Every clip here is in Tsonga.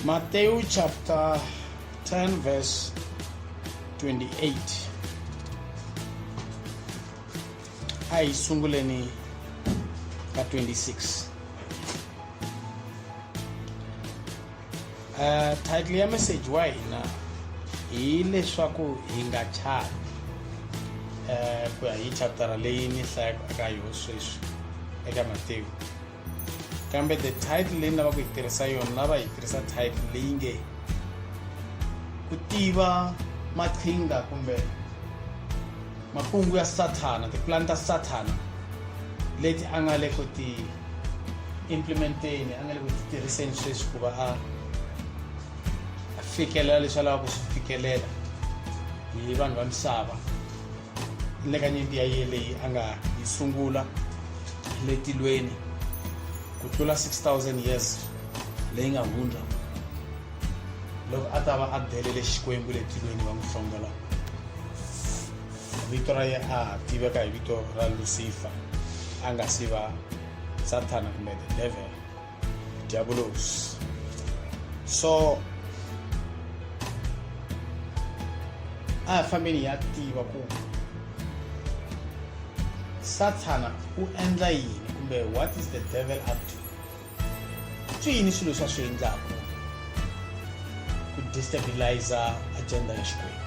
Matthew chapter 10, verse 28. A hi sunguleni ka 26. Uh, title ya message wa hina hi leswaku hi nga chati um ku ya hi chaptara leyi ni hlayaka eka yo sweswi eka matewu kambe the title leyi ni lava ku yi tirhisa yona lava yi tirhisa title leyi nge ku tiva maqhinga kumbe makungu ya sathana tipulani ta sathana leti a nga le ku ti implementeni a nga le ku ti tirhiseni sweswi ku va a fikelela leswi a lavaka ku swi fikelela hi vanhu va misava le ka nyimpi ya ye leyi a nga yi sungula le tilweni ku tlula 6000 years leyi nga hundza loko a ta va a belele xikwembu le tilweni va n'wi hlongola vito ra ye a tiveka hi vito ra lucifer a nga si va sathana kumbe the devil diabolos so a hi fambeni hi ya tiva ku sathana u endla yini kumbe what is the devil up to swi yini swilo swa swi endlaka ku destabiliza agenda ya xikwembu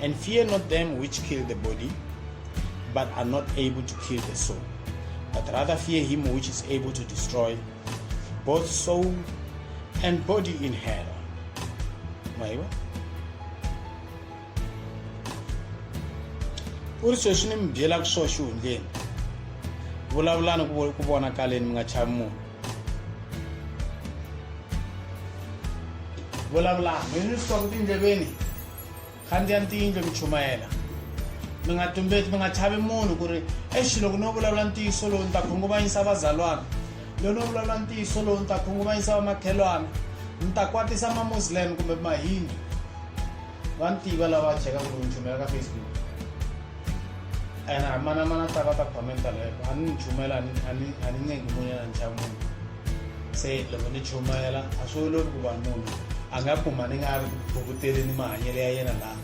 And fear not them which kill the body, but are not able to kill the soul, but rather fear him which is able to destroy both soul and body in hell. Mwaiwa? uri sweswi ni mi byela ku swo xihundleni vulavulani ku vonakaleni mi nga chavi munhu vulavulani mi ni swi twa ku tindleveni khandziyani tiyindlo mi chumayela mi nga tumbeti mi nga chavi munhu ku ri exi loko no vulavula ntiyiso lowu ni ta khunguvanyisa vazalwana loko no vulavula ntiyiso lowu ni ta khunguvanyisa vamakhelwana ni ta kwatisa mamuslim kumbe mahindi va ni tiva lava cheka ku ni chumela ka facebook and a mana mana ta va ta commenta loko a ni ni chumela a ni ncengi munyana ni chava munhu se loko ni chumayela a swi olovi ku va munhu a nga kuma ni nga ri bukuteli ni mahanyelo ya yena laha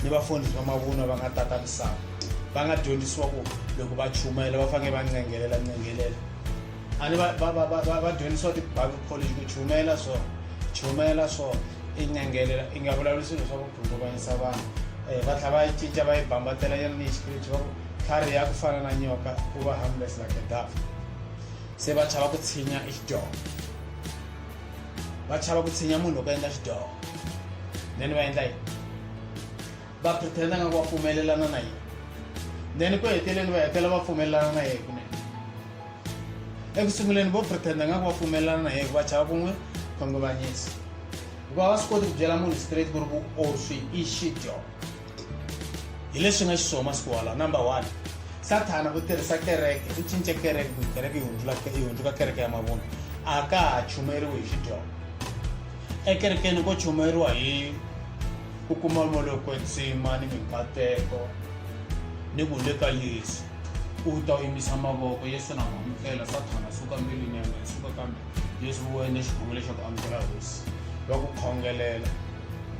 ni vafundhisi va mavunwa va nga tata misava va nga dyondzisiwa ku loko va chumayela va fanele va ncengelela ncengelela a ni va dyondzisiwa ti-bible college ku chumayela so chumayela so i ncengelela i nga vulavuli swilo swa ku khunguvanyisa vanhu um va tlhela va yi cinca va yi bambatela yena ni hi xipiriti va ku tlhari ya ku fana na nyoka ku va harmless like a dove se va chava ku tshinya exidyoho va chava ku tshinya munhu loko endla xidyoho then va endla yini va pretenda nga ku va pfumelelana na yini then ku heteleni va hetela va pfumelelana na yena kunene eku sunguleni vo pretenda nga ku va pfumelelana na yena ku va chava ku n'wi khongomanyisa hikuva va swi koti ku byela munhu straight ku ri ku o swi i xidyoho hi leswi nga xiswona masiku walawo number one sathana u tirhisa kereke u cince kereke ku kereke yi hundzula yi hundzuka kereke ya mavunwa a ka ha chumeriwi hi xidyongo ekerekeni ko chumeriwa hi ku kuma moloko entsima ni minkateko ni ku le ka yesu u ta u yimisa mavoko yesu na amukela sathana suka mbilwini ya mina suka kambe yesu u wene xikhongelo xa ku amukela hosi va ku khongelela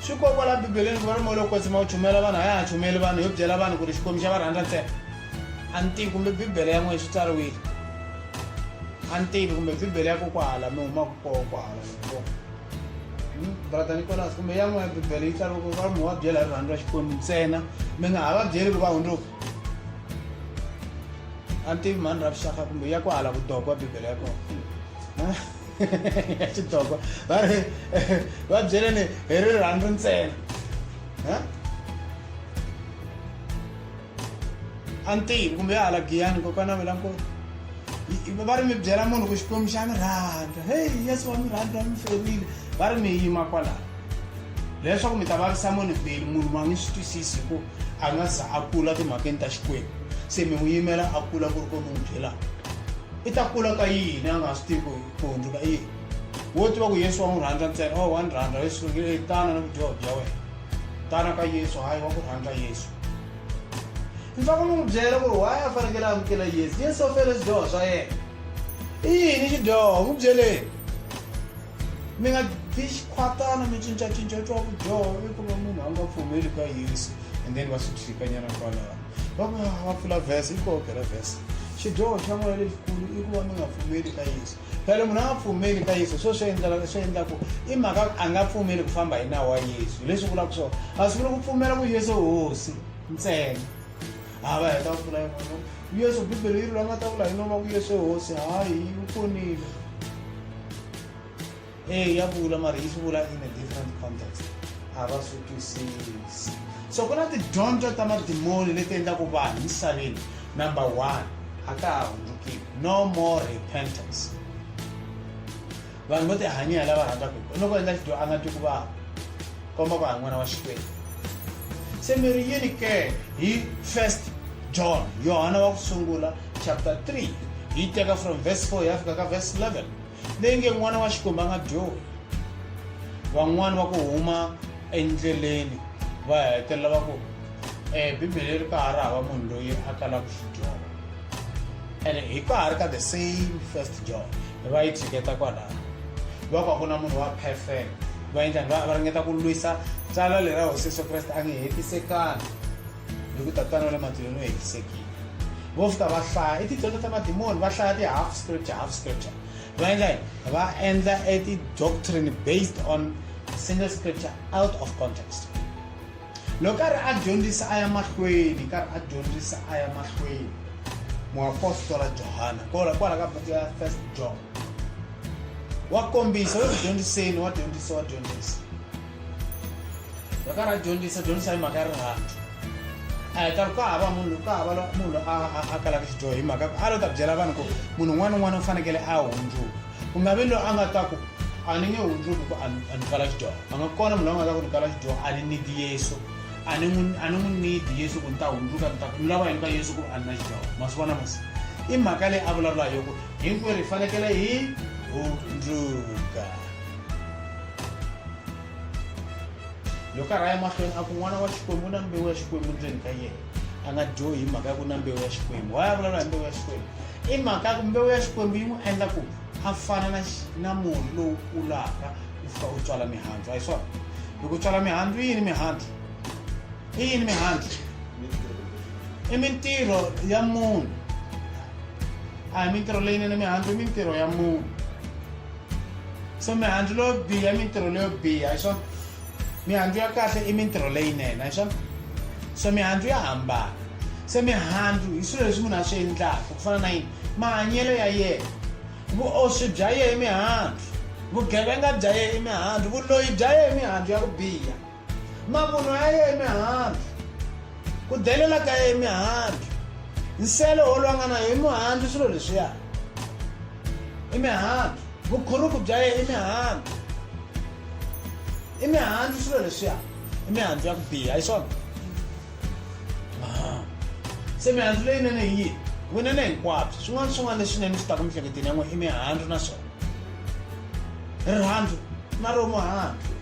swi ko kwala bibeleni ku va ri moya lowo kwetsima wu chumela vanhu a ya ha chumeli vanhu yo byela vanhu ku ri xikwembu xa va rhandza ntsena a ni tivi kumbe bibele ya n'wina swi tsariwile a ni tivi kumbe bibele ya kokwahala mi humaka koho kwahala hmm? brother nicolas kumbe ya n'wina bibele yi tsariwe ku va mi wa byela hi rirhandzu ra xikwembu ntsena mi nga ha va byeli ku va hundzuka a ni tivi mhani ra vuxaka kumbe ya ku hala vudoko wa bibele ya kona ya xidoko va ri va byeleni hi rirhandzu ntsena a ntivi kumbe ya hala giyani kokwana vela nkulu va ri mi byela munhu ku xikwembu xa mi rhandza heyi yesu wa mi rhandza mi ferile va ri mi yima kwalaho leswaku mi ta vavisa munhu beli munhu ma ngi swi twisisi hi ku a nga za a kula timhakeni ta xikwembu se mi n'wi yimela a kula ku ri ko mi n'wi byelaka i ta kula ka yini a nga swi tivi ku hundzuka i yini wo tiva ku yesu wa n'wi rhandza ntsena o oh, wa ni rhandza yesu eh, tana ni vudyoho bya wena tana ka yesu hayi wa ku rhandza yesu ni fanele ni n'wi byela ku ri waye a fanekele amukela yesu yesu u fele swidyoho swa yena i yini xidyoho n'wi byeleni Mi nga bi xikhwatana mi cincacinca twa vudyoho i ku va munhu a nga pfumeli ka yesu and then va swi tshikanyana kwalaho va ku ah, va pfula vhese i kokela vhese xidyoho xa n'wina lexikulu i ku va mi nga pfumeli ka yesu phela munhu a nga pfumeli ka yesu swo swi endlaka swi endlaku i mhaka a nga pfumeli ku famba hi nawu wa yesu leswi vulaka swona a swi vuli ku pfumela ku yesu hosi ntsena a va heta mpfula yin'wana yesu bibele yi ri la nga ta vula hi noma ku yesu hosi hayi yi pfunile e ya vula mara yi swi vula in a different context a va swi twisisi so ku na tidyondzo ta madimoni leti endlaku vanhu misaveni number one a ka ha hundzukiwi no more repentance vanhu vo tihanyela lava rhandzaka hi loko endla xidyo a nga twi ku vava komba ku ha n'wana wa xikwembu se mi ri yini ke hi first john yohana wa ku sungula chapter 3 yi teka from verse 4 ya fika ka verse 11 leyi nge n'wana wa xikwembu a nga dyohi van'wani va ku huma endleleni va hetelela va ku um bibele ri ka ha ri hava munhu loyi a kalaka xidyoho ene hi ka ha ri ka the same first john va yi tshiketa kwalano va ku a ku na munhu wa perfect va endla va ringeta ku lwisa tsala leri ra hosi yesu kreste a nge hetisekanga hi ku tatana wa le matilweni u hetisekile vo fita va hlaya i tidyondzo ta madimoni va hlaya ti-half scripture half scripture va endla yini va endla e ti-doctrine based on single scripture out of context Loko karhi a dyondzisa a ya mahlweni, karhi a dyondzisa a ya mahlweni. Muapostola Johana, kwala kwala ka buku ya First John. Wa kombisa, wa dyondziseni, wa dyondzisa, wa dyondzisa. Loko karhi a dyondzisa, dyondzisa hi mhaka ya rihanyo. A hi karhi ka hava munhu ka hava munhu a a kalaka xidyoho hi mhaka a lo ta byela vanhu ku munhu un'wana na un'wana u fanekele a hundzuka. ku nga vi loyi a nga ta ku a ni nge hundzuki ku a ni a ni kala xidyoho a nga kona munhu loyi a nga ta ku ni kala xidyoho a ni need yesu a ni n'wi a ni n'wi need yesu ku ni ta hundzuka ni ta ku ni lava yini ka yesu ku a ni na xidyoho ma swi vona masi i mhaka leyi a vulavula hi yoku hinkwerhu hi fanekele hi hundzuka loko a rhaya mahlweni a ku n'wana wa xikwembu u na mbewu ya xikwembu ndzeni ka yena a nga dyohi hi mhaka ya ku na mbewu ya xikwembu why a vulavula hi mbewu ya xikwembu i mhaka ya ku mbewu ya xikwembu yi n'wi endla ku a fana na na murhi lowu kulaka u fika u tswala mihandzu a hi swona loko u tswala mihandzu yini mihandzu i yini mihandzu i mintirho ya munhu a hi mintirho leyinene mihandzu i mintirho ya munhu so mihandzu leyo biha i mintirho leyo biha hi swona mihandzu ya kahle i mintirho leyinene a swona so mihandzu ya hambana se mihandzu hi swilo leswi munhu a swi endlaka ku fana na yini mahanyelo ya yena vuoswi bya yena i mihandzu vugevenga bya yena i mihandzu vuloyi bya yena i mihandzu ya ku biha mavunwa ya yena i mihandzu ku delela ka yena i mihandzu nsele wo lwanga na yona i mihandzu swilo leswiya imihandzu vukhurumbu bya yena imihandzu imihandzu swilo leswiya imihandzu ya ku biha hi swona se mihandzu leyinene hi yini vunene hinkwabyo swin'wana swin'wana leswinene swi taka mihleketeni ya n'we i mihandzu na swona rirhandzu na romuhandzu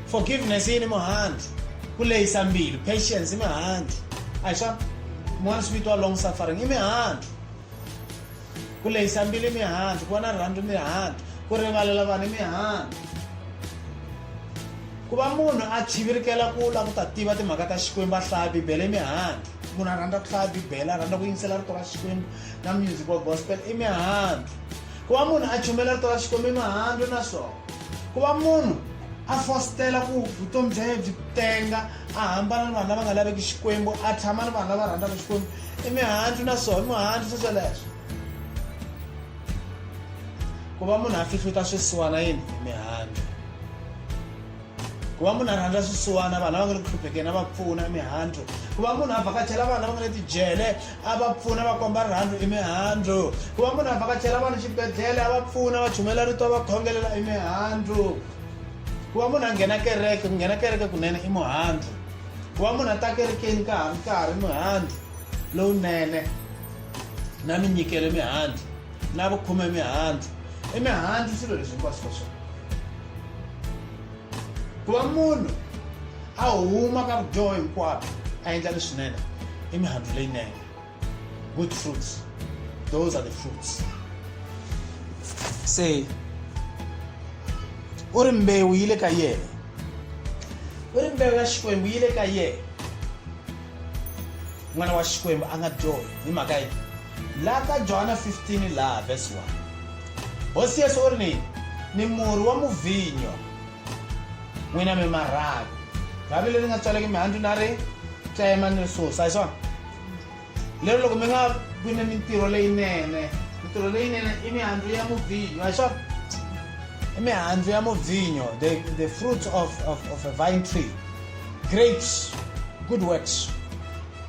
forgiveness yi ni muhandzi ku lehisa mbilu patience i mihandzi a hi swa mun'wana swi vitiwa long suffering i mihandzi ku lehisa mbilu i mihandzi ku va na rirhandzu mihandzi ku rivalela vanhu i mihandzi ku va munhu a chivirikela ku la ku ta tiva timhaka ta xikwembu a hlaya bibele i mihandzi munhu a rhandza ku hlaya bibele a rhandza ku yingisela rito ra xikwembu na music wa gospel i mihandzi Ku va munhu a chumayela rito ra Xikwembu i mihandzu naswona ku va munhu a fositela ku vutomi bya yena byi tenga a hambana ni vanhu lava nga laveki Xikwembu a tshama ni vanhu lava rhandzaka Xikwembu i mihandzu naswona i mihandzu swesweleswo ku va munhu a fihluta swisiwana yini mihandzu ku va munhu a rhandza swisiwana vanhu lava nga le ku hluphekeni a va pfuna i mihandzu ku va munhu a vhakachela vanhu lava nga le tijele a va pfuna va komba rirhandzu i mihandzu ku va munhu a vhakachela vanhu xibedhlele a va pfuna va chumela rito va khongelela i mihandzu ku va munhu a nghena kereke ku nghena kereke kunene i muhandzu ku va munhu a ta kerekeni ka ha ri karhi mihandzu lowunene na minyikelo mihandzu na vukhume mihandzu i mihandzu swilo leswi hinkwaswo ka swona ku va munhu a huma ka vudyoho hinkwabyo a endla leswinene i mihandzu leyinene good fruits those are the fruits se u ri mbewu yi le ka yena u ri mbewu ya xikwembu yi le ka yena n'wana wa xikwembu a nga dyohi hi mhaka yini Laha ka Johana 15 laha vesi 1, Hosi Yesu u ri ni, Ni murhi wa muvinyo, n'wina mi ma rhanga. Rhavi leri nga tswaleki mihandzu na ri tsema ni ri susa, hi swona? Lero loko mi nga vi ni mintirho leyinene, mintirho leyinene i mihandzu ya muvinyo, hi swona? I mihandzu ya muvinyo, the, the fruits of, of, of a vine tree, grapes, good works.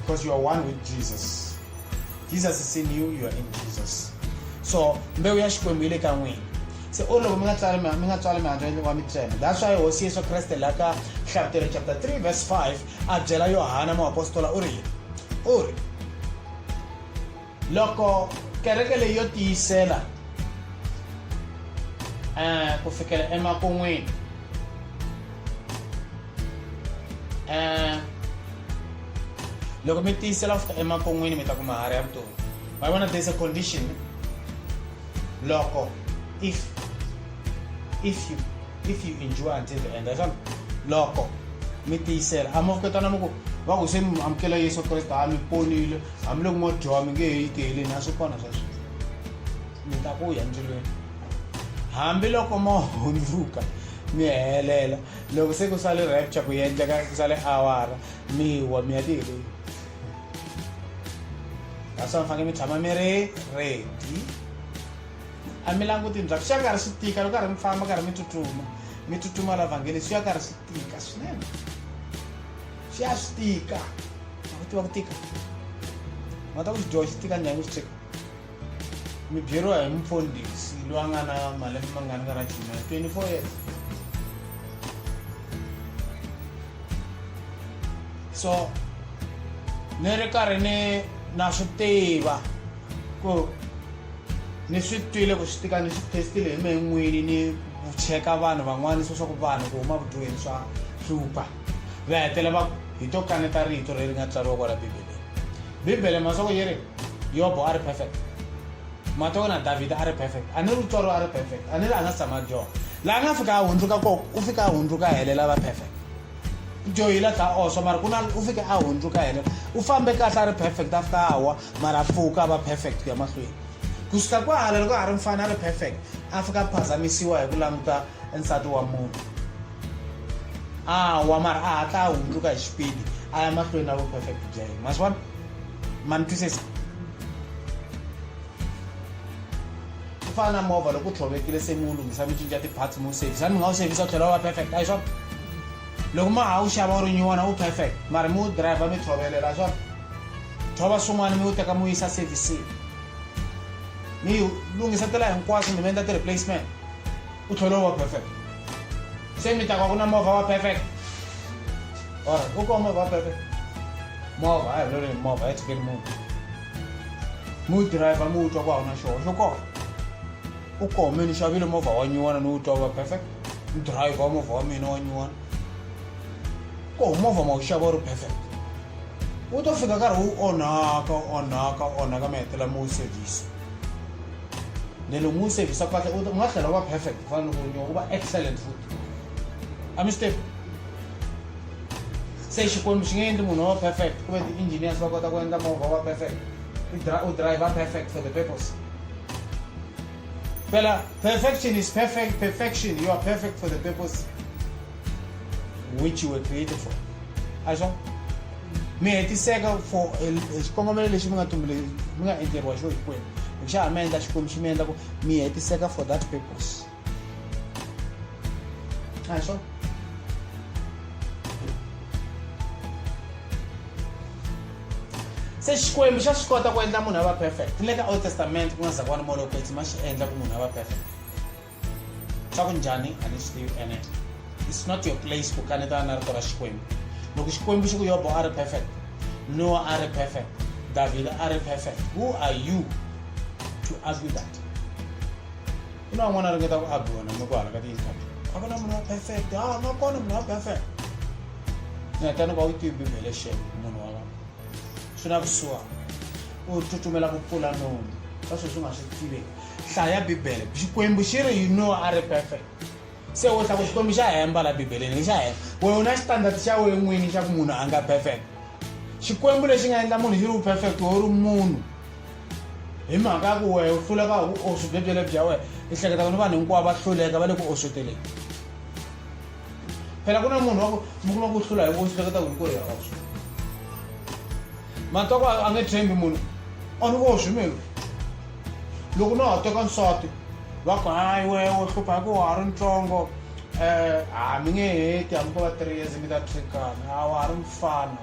because you are one with jesus jesus is in you you are in jesus so mbewu ya xikwembu yi le ka n'wina se o loko mi nga tswali mi nga tswali mihandzu wa mitsema that's why hosi yesu kreste la ka hlabutelo chapter 3 verse 5 a byela yohana muapostola u ri yini u ri loko kereke leyi yo tiyisela um ku fikela emakun'wini um loko mi tiyisela ku fika emakun'wini mi ta kuma hari ya vutomi ma vona there's a condition loko if if you if you endure until the end asana loko mi tiyisela a mavuketana mi ku va ku se mi amukela yesu kreste a mi ponile hambiloko mo dyoha mi nge he yi tiheleni a swi kona swa sweswi mi ta ku ya ndzilweni hambiloko mo hundzuka mi helela loko se ku sale rapture ku yendleka ku sale awara mi wa mi ya tiheleni kasi mi fanekele mi tshama mi ri ready a mi languti ndzhaku swi ya karhi swi tika loko karhi mi famba karhi mi tsutsuma mi tsutsuma la vhangeli swi ya karhi swi tika swinene se a swi tika a ku tiva ku tika nga ta ku xidyoho xi tika njhani xi cheka mi byeriwa hi mufundhisi loyi a nga na malembe ma nga ni ka ra chima 24 years so ni ri karhi ni na swi tiva ku ni swi twile ku swi tika ni swi testile hi mehe n'wini ni cheka vanhu van'wana swa swa ku vanhu ku huma vudyoheni swa hlupha va hetela va ku hi to kaneta rito leri nga tsariwa kwala bibeleni bibele masoko yi ri yobo a ri perfect matoko na davhida a ri perfect a ni ri tswariwa a ri perfect a ni ri a nga si tshama dyoha laha nga fika a hundzuka koko u fika a hundzuka a helela va perfect dyohile ta oso mara ku na u fike a hundzuka helela u fambe kahle a ri perfect a fika a wa mara a pfuka a va perfect ku ya mahlweni kusuka kwahala loko a ha ri mfana a ri perfect a fika a phazamisiwa hi ku languta nsati wa munhu awa mara a hatla a hundzuka hi xipidi a ya mahlweni na vuperfect bya yena ma swi vona ma ni twisisa ku fana na movha loko u tlhovekile se mi wu lunghisa mi cinca ti-parts mi wu sevhisa mi nga wu sevhisa u tlhela wa perfect a hi swona loko ma ha wu xava u ri nyiwona wu perfect mara mi wu driver mi tlhovelela a swona thova swin'wana mi wu teka mi wu yisa servicing mi lunghisa tela hinkwaswo mi mi endla ti-replacement u tlhela u va perfect Semi taka kuna movha wa perfect. Ora, uko movha wa perfect. Movha, ayi lori movha, ayi tikeli munhu. Mu driver mu utwa ku hauna xona, xo kona. U kome ni xavile movha wa nyuwana ni utwa wa perfect. Ni driver wa movha wa mina wa nyuwana. Ko movha ma wu xava wu ri perfect. Wu to fika nkarhi wu onhaka, onhaka, onhaka mi hetelela mi wu service. nelo ngusevisa kahle ukuthi ungahlala uba perfect kufana nokunye uba excellent futhi amistep se xikwembu xi nge endli munhu wa perfect ku ve ti-engineers va kota ku endla movha wa perfect u driver perfect for the purpose phela perfection is perfect perfection you are perfect for the purpose which you were created for a swa mi hetiseka for xikongomelo lexi mi nga tumbule mi nga endleriwa xo hikwenu hi xa ha mi endla xikwembu xi mi endla ku mi hetiseka for that purpose a swa se xikwembu xa swi kota ku endla munhu a va perfect ni le ka old testament ku nga zakwana molopetsi ma xi endla ku munhu a va perfect swakunjhani a ni swi tivi ene it's not your place ku kanetana na rito ra xikwembu loko xikwembu xi ku yobo a ri perfect noa a ri perfect davhida a ri perfect who are you to argue that ku na van'wana a ringeta ku argue wena mi ku hala ka ti-interview a ku na munhu wa perfect a ah, nga kona munhu wa perfect ngatani ka u tivi bibele xen munhu wa vona swi na kusuhana u tsutsumela ku pfula nomu ka sweswi u nga swi tiveki hlaya bibele xikwembu xi ri yini nowa a ri perfect se u hla ku xikwembu xa hemba la bibeleni ni xa hemba wehe u na xitandard xa wehe n'wini xa ku munhu a nga perfect xikwembu lexi nga endla munhu xi ri u perfect wehe u ri munhu hi mhaka ya ku wehe u hluleka hi ku oswi byebyele bya wehe i hleketa ku ni vanhu hinkwavo va hluleka va le ku osweteleni phela ku na munhu wa ku mi kuma ku hlula hi oswi hleketa ku hi ku ya oswi matwa ku a nge tshembi munhu on oswi melu loko na ha teka nsati va ku hayi we wo hlupha hi ku wa ha ri ntsongo um ha mi nge heti hambi ko va three years mi ta thrikana a wa ha ri mfana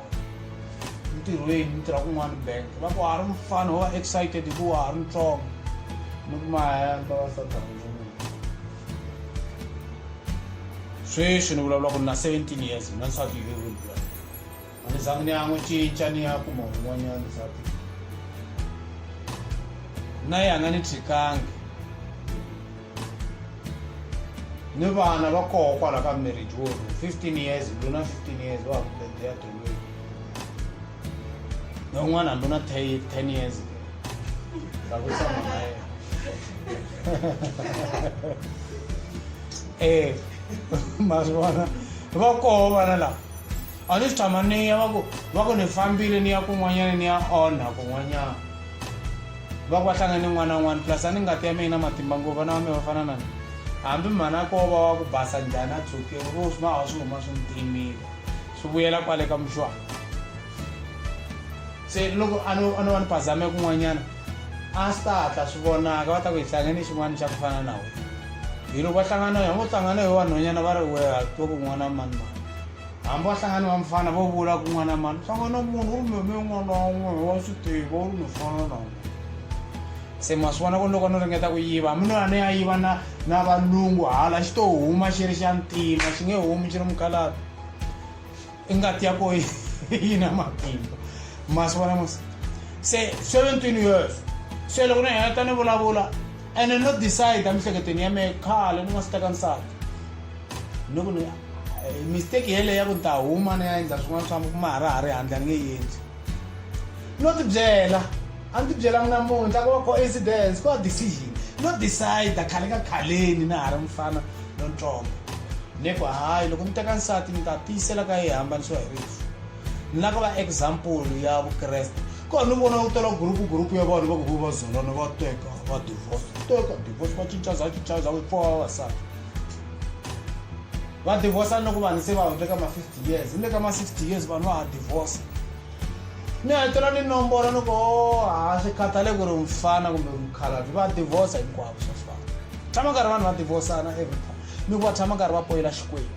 ntirhweni mi tirha kun'wana bank va ku wa ha ri mfana wo va excited hi ku wa ha ri ntsongo ni ku mahemba va satarhanyana sweswi ni vulavula ku ni na seventeen years na nsati yi le A ni zangi ni ya n'wi cinca ni ya kuma un'wanyana nsati na ye a nga ni tshikangi ni vana va koho kwala ka marriage wo 15 years ndluna 15 years wa ha ku bedeya dolweni na un'wana hambi na 10 years ta ku tshama na yena e ma swi vona va koho vana lava A ni swi tshama ni ya va ku va ku ni fambile ni ya kun'wanyana ni ya onha kun'wanyana va ku va hlangane ni n'wana n'wana plus a ni ngati ya mina matimba ngopfu vana va mina va fana na ni hambi mhanako wo va wa ku basa njhani a tshokiwa vo swi nga ha swi huma swi ni timile swi vuyela kwale ka muxwana se loko a no a no va ni phazame kun'wanyana a swi ta hatla swi vonaka va ta ku hi hlangane xin'wana xa ku fana na wena hi loko va hlangana ya ngo hlangana hi vanhwanyana va ri weha to kun'wana mani mani hambi wa hlangana wa mfana vo vula kun'wana mani hlangana munhu u ri meme un'wana wa un'wana wa swi tiva u ri mufana na un'wana se ma swi vona ku ni loko ni ringeta ku yiva hambi nona ni ya yiva na na valungu hala xi to huma xi ri xa ntima xi nge humi xi ri mukhalata i ngati ya ko yi na matimba ma swi vona mos se seventeen years se loko ni heta ni vulavula ene no decide emihleketweni ya mehe khale ni nga swi teka nsati ni ku ni mistake yeleyo ya ku ni ta huma ni ya endla swin'wana swa kuma ha ra ha ri handle ni nge yi endli no tibyela a ni tibyela mina munhu ta ku va coincidence ku va decision no decide khale ka khaleni na ha ri mufana lontsongo ni ku hayi loko ni teka nsati ni ta tiyisela ka yi hambanisiwa hi rifu ni la ku va example ya vukreste ko ni vona u tela gurupu gurupu ya vanhu va ku va zolana va teka va divorce teka divorce va cincaza cincaza va pfuwa vavasati va divorsa ni loko vanhu se va hundze ka ma 50 years ni le ka ma 60 years vanhu va ha divorsa ni hetelela ni nombora ni ko ha swi khatale ku ri mfana kumbe mukhalabyi va divorsa hinkwavo swa fana tshama nkarhi vanhu va divorsana every time ni ku va tshama nkarhi va poyela xikwembu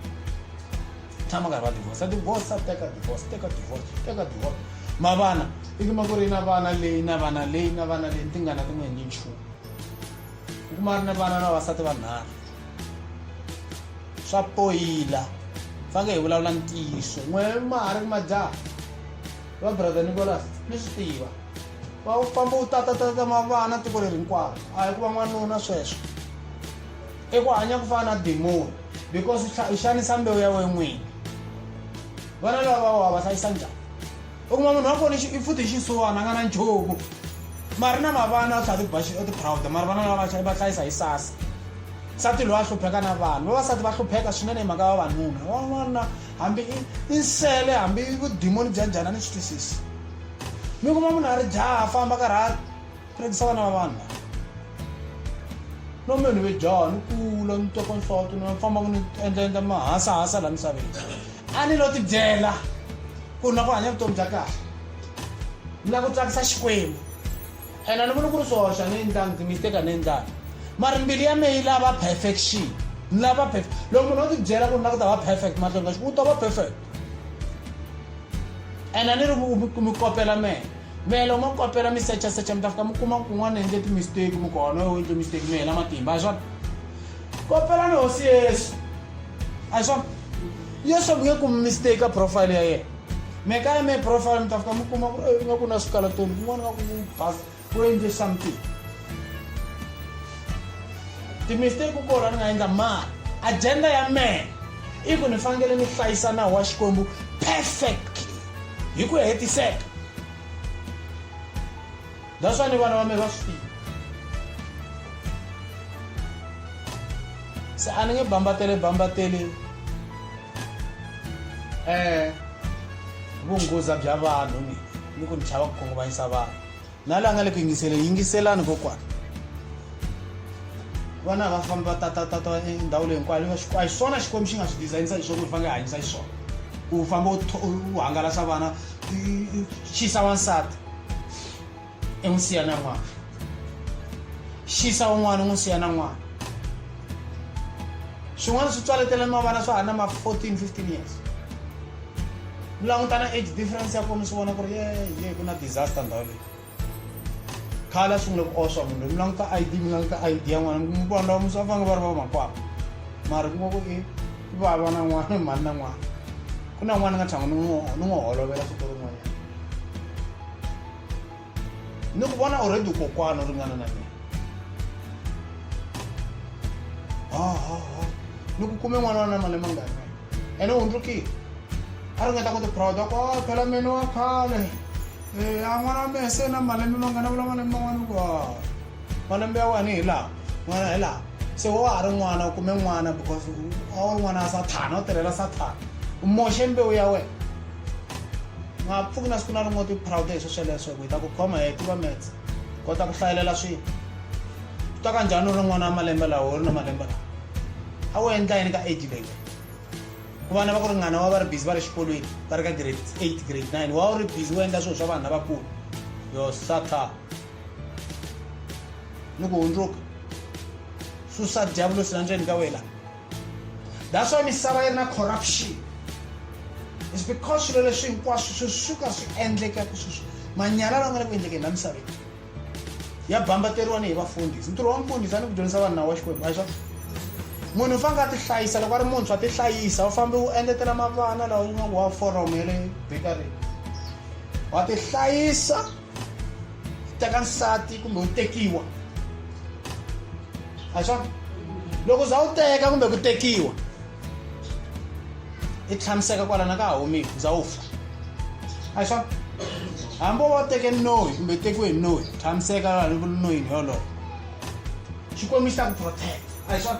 tshama nkarhi va divorsa divorsa teka divorce teka divorce teka divorce ma vana i kuma ku ri na vana leyi na vana leyi na vana leyi ti nga na tin'we hi ni nchumu u kuma ri na vana na vavasati vanharhu swa poyila fange hi vulavula ntiyiso n'we ma ha ri majaha va brother nicolas mi swi tiva va u famba u tatatata mavana tiko leri hinkwaro a hi ku va n'wanuna sweswo i ku hanya ku fana na dimoni because u xanisa mbewu ya we n'wini vana lava va wa va hlayisa njhani u kuma munhu wa foni i futhi xiswona a nga na nchumu mari na mavana u tlhela tibaxi u tiphrawuda mari vana lava va va hlayisa hi sasa nsati loyi a hlupheka na vanhu vavasati va hlupheka swinene hi mhaka vavanuna van'wana hambi i nsele hambi vudimoni bya njhani a ni swi twisisi mi kuma munhu a ri jaha a famba karhi a Phikisana na vanhu lava. Lombe ni ve jaha ni kula ni toko nhloti ni famba ni endla endla mahasa hasa la misaveni. A ni lo tibyela ku na ku hanya vutomi bya kahle. Ni la ku tsakisa Xikwembu. Ena ni vona ku ri swoxa ni endlanga ndzi mi teka ni endlanga. Mara mbilu ya me yi lava perfection. Ni lava perfect. Loko munhu o tibyela ku na ku ta va perfect mahlweni ka Xikwembu u ta va perfect. Ena ni ri mi kopela mehe. mehe loko mo kopela mi secha secha mi ta fika mi kuma ku un'wana endle timisteki mi kona yo endle misteki mi hela matimba a hi swona kopela ni hosi yesu a hi swona yesu mi nge kumi misteki ka profile ya yena me kaya me profile mi ta fika mi kuma ku eh, nga ku na swikalatoni kun'wana nga ku bas ku endle something timisteki ku kona ni nga endla mali agenda ya mehe i ku ni fanekele ni hlayisa nawu wa xikwembu perfect hi ku hetiseka that's ni vana va me va swi tiva se a ni nge bambatele bambateli um vunghoza bya vanhu ni ni ku ni chava ku khunguvanyisa vanhu na la nga le ku yingiseleni yingiselani kokwana vana va fambi va tatatata endhawu leyi hinkwayo a hi swona xikwembu xi nga swi dizayinisa hi swona fanele hanyisa hi swona u famba u hangalasa vana xisa wansati i n'wi siya na n'wana xisa un'wana u n'wi siya na n'wana swin'wana swi tswaletela ni mavana swa ha na ma 14 15 years langutana age difference ya kona swi vona ku ri ye ye ku na disaster ndhawu leyi khale a sungule ku oswa munhu loyi mi languta i d mi languta i d ya n'wana mi vanhu lava mi swa fange va ri va makwapa mara ku va ku i vava na n'wana mhani na n'wana ku na n'wana ni nga tshama ni n'wi holovela siku rin'wanyana ni ku vona already kokwana u ringana na mina hahaha ni ku kume n'wana wa na mali mangani wena ene u hundzukile a ringeta ku tiproud ku a phela mene wa khale a n'wana wa mehe se na malembe mangani a vula malembe man'wana ku malembe ya wena hi laha n'wana hi laha se wa ha ri n'wana u kume n'wana because a wu ri n'wana wa sathana u tirhela sathana u moxe mbewu ya wena nga pfuki na siku na rin'we ti proud hi sweswo leswo hi ta ku khoma hi tiva mets kota ku hlayelela swilo u ta ka njhani u ri n'wana wa malembe lawa u ri na malembe lawa a wu endla yini ka age leyi ku vana va ku ringana wa va ri busy va ri xikolweni va ri ka grade eight grade nine wa wu ri busy wu endla swilo swa vanhu lavakulu yo satana ni ku hundzuka susa diyavulosi la ndzeni ka wena that's why misava yi ri na corruption is because swilo leswi hinkwaswo swi suka swi endleka ku sweswi manyala lawa nga le ku endlekeni la misaveni ya bambateriwa ni hi vafundhisi ntirho wa mfundhisi a ni ku dyondzisa vanhu nawu wa xikwembu a hi swona munhu u fanele a ti hlayisa loko a ri muntshwa ti hlayisa u fambe u engetela mavana lawa u nga ku wa foromo ya le bekarini wa ti hlayisa teka nsati kumbe u tekiwa a hi swona loko za u teka kumbe ku tekiwa i tlhamiseka kwalana ka ha humiwa za u fa a hi swona hambi wo va teke noyi kumbe u tekiwe hi noyi tlhamiseka loko noyini yoloyo xikwembu xi ta ku protect a hi swona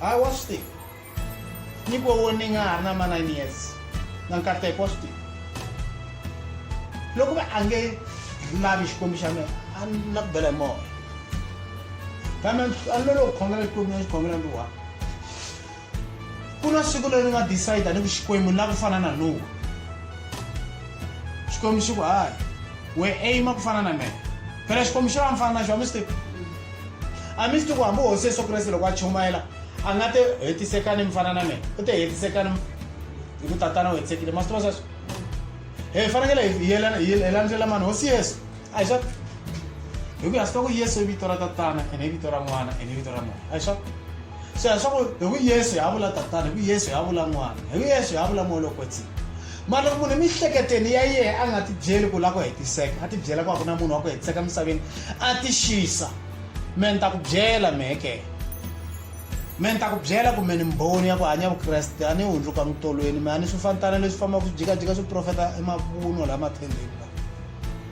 ha wa swi tiva ni ku wo ni nga ha ri na ma-nine years na nkateko wa swi tiva loko va a nge lavi xikwembu xa mina a ni na ku bela hi moya kambe a ni lolo ku khongela xikwembu na xikhongela ni wa ku na siku leri nga decide ni ku xikwembu la ku fana na nuwa xikwembu xi ku hayi we aima ku fana na mina phela xikwembu xi va mfana na xo a mi swi tivi a mi swi tiku hambi hosi yesu kreste loko a chumayela a nga te hetisekani mi fana na mina u te hetisekani hi ku tatana u hetisekile ma swi tiva sweswo hi fanekele hi yelandzela mani hosi yesu a hi sweswo hi ku ya swi tiva ku yesu i vito ra tatana ene i vito ra n'wana ene i vito ra munhu a hi sweswo se swa ku hi ku yesu hi vula tatana hi ku yesu hi vula n'wana hi ku yesu hi vula moya lokwetsini mara loko munhu emihleketeni ya yehe a nga ti byeli ku lava ku hetiseka a ti byela ku a ku na munhu wa ku hetiseka emisaveni a ti xisa me ni ta ku byela meke me ni ta ku byela kumbe ni mboni ya ku hanya vukreste a ni hundzuka mutolweni me a ni swi fanitana leswi fambaka swi jikajika swi profeta emavunwa lama thendeni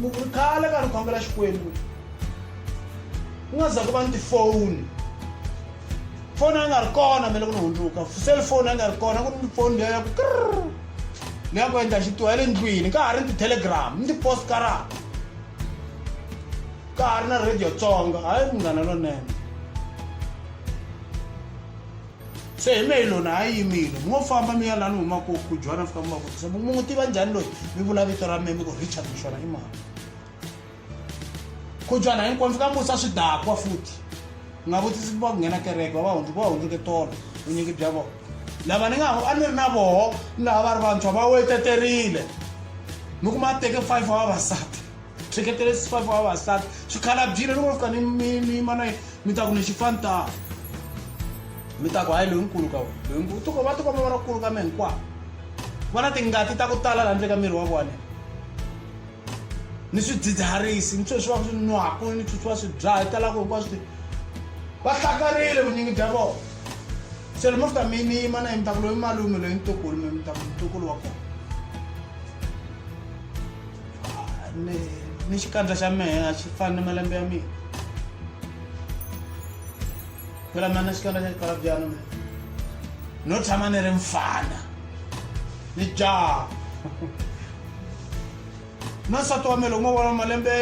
ni ku ri khale ka ni khongela xikwembu ku nga za ku va ni tifoni foni a nga ri kona mele ku ni hundzuka cellphone a nga ri kona ku ni foni leya ku krr ni ya ku endla xitiwa ya le ndlwini ka ha ri ni ti-telegram ni ti-postcara ka ha ri na radio tsonga hayi munghana lonene se hi mehe lona a yimile mi ngo famba mi ya lani huma ku ku jwana fika mi va vutisa mu n'wi tiva njhani loyi mi vula vito ra meme ku richard mixona i mani ku jwana hinkwani fika mi vutisa swidakwa futhi nga vutisi va ku nghena kereke va va hundzuka va hundzuke tolo vunyingi bya vona lava ni nga a ni ri na voho ni lava va ri vantshwa va weteterile mi kuma teke five wa vavasati tsheketele swifavi wa vavasati swikhalabyile loko va fika ni mi mi mana yi mi ta ku ni xifantaa mi ta ku hayi loyinkulu ka wena loyinkulu tiko va tikoma va rakulu ka mi hinkwavo va na tingati ta ku tala laha ndle ka miri wa vona ni swidzidziharisi ni sweswi va swi nwaku ni sweswi va swi dzaha yi talaka hinkwaswo ti va hlakarile vunyingi bya vona se lomo fika mi mi yima na yi mi ta ku loyi malume loyi ntukulu mi mi ta ku ntukulu wa kona ni ni xikandza xa mehe a xi fani ni malembe ya mina phela mina xikandza xa xikalabyana mina no tshama ni ri mfana ni jaha na nsati wa mina loko mo vona malembe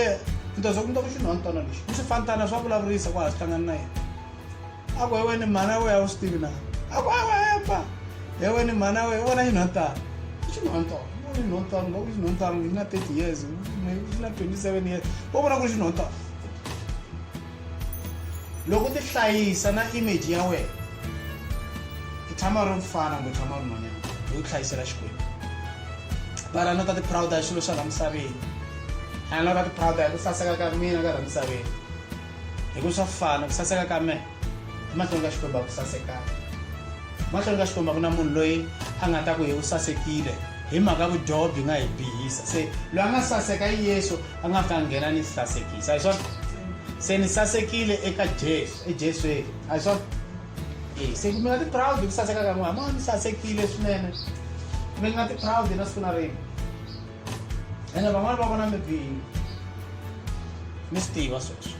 ni ta za ku ni ta ku xinhwantana lexi ni swifantana swa vulavurisa ku ha swi hlangani na yena ako hewe ni mhana we a wu swi tivi na ako hewe hepa hewe ni mhana we vona yi nhotano xinhonto vona nhonto loko xinhonto yi na 30 years yi na 27 years vo vona ku ri xinhonto loko u ti hlayisa na image ya wena i tshama ri mfana kumbe tshama ri nhwanyana hi ku hlayisela xikwembu vana no ta ti proud hi swilo swa la misaveni a no ta ti proud hi ku saseka ka mina ka ra misaveni hi ku swa fana ku saseka ka mehe emahlweni ka xikwembu a ku sasekanga emahlweni ka xikwembu a ku na munhu loyi a nga ta ku hi u sasekile hi mhaka vudyoho byi nga hi bihisa se loyi a nga saseka i yesu a nga fika nghena ni sasekisa hi swona se ni sasekile eka jesu ejeswini a hi swona e se mi nga ti-proud hi ku saseka ka n'wina ma ni sasekile swinene mi nga ti-proud na siku na rini ene van'wana va vona mi bini mi swi tiva sweswo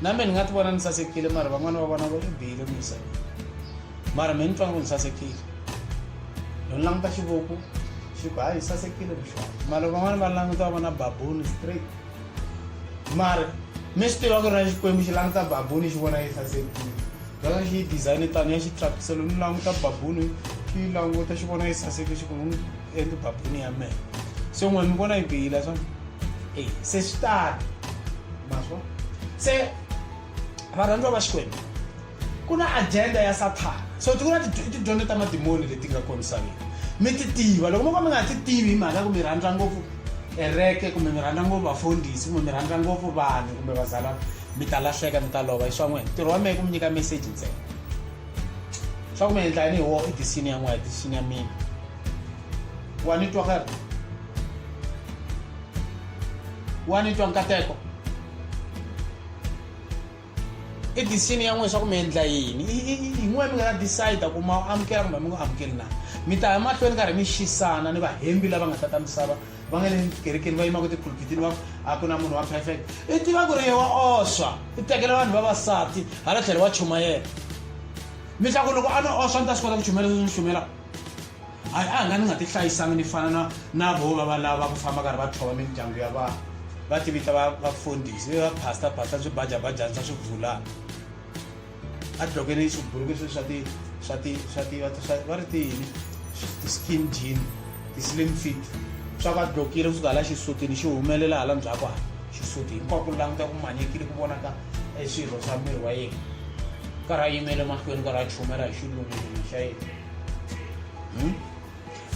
na mina ni nga ti vona ni sasekile mara van'wana va vona va mi bihile mi yisa mara mi ni twa ngo ni sasekile no ni languta xivoko xi ku hayi sasekile mixo mara van'wana va languta va vona babuni straight mara mi swi tiva ku ri na xikwembu xi languta babuni xi vona yi sasekile loko xi yi design tani ya xi tlakuselo ni languta babuni xi yi languta xi vona yi saseke xi ku eku babuni ya mehe se n'wani mi vona yi bihile swona e se swi tani maswo se varhandziwa va xikwembu ku na agenda ya sathana so ti ku na tidyondzo ta madimoni leti nga kona misaveni mi ti tiva loko mo ka mi nga ti tivi hi mhaka ku mi rhandza ngopfu ereke kumbe mi rhandza ngopfu vafundhisi kumbe mi rhandza ngopfu vanhu kumbe vazalana mi ta lahleka mi ta lova hi swa n'wina ntirho wa mehe ku mi nyika meseji ntsena swa ku mi endla yini hi wo i disini ya n'wina disini ya mina wa ni twa ka wa ni twa nkateko i disini ya n'wina swa ku mi endla yini hi n'wina mi nga ta decide ku ma amukela kumbe mi nga amukeli na mi ta ya mahlweni karhi mi xisana ni vahembi lava nga ta ta misava va nga le kerekeni va yimaka tiphulpitini va a ku na munhu wa perfect i tiva ku ri ye wa oswa i tekela vanhu vavasati hala tlhelo wa chumayela mi tla ku loko a no oswa ni ta swi kota ku chumela leswi ni chumela a a nga ni nga ti hlayisangi ni fana na na vo va va lava ku famba karhi va tlhova mindyangu ya vanhu va tivita vafundhisi va pastor pastor swibajabajani swa swi vulana a dlokeni swiburuku swe swa ti swa ti swa ti va ri ti yini ti-skin jean ti-slim fit swa va dlokile kusuka hala xisutini xi humelela hala ndzhaku hala xisuti hinkwako languta ku manyekile ku vonaka e swirho swa miri wa yena karhi a yimele mahlweni karhi a chumela hi xilungululu xa yena hmm?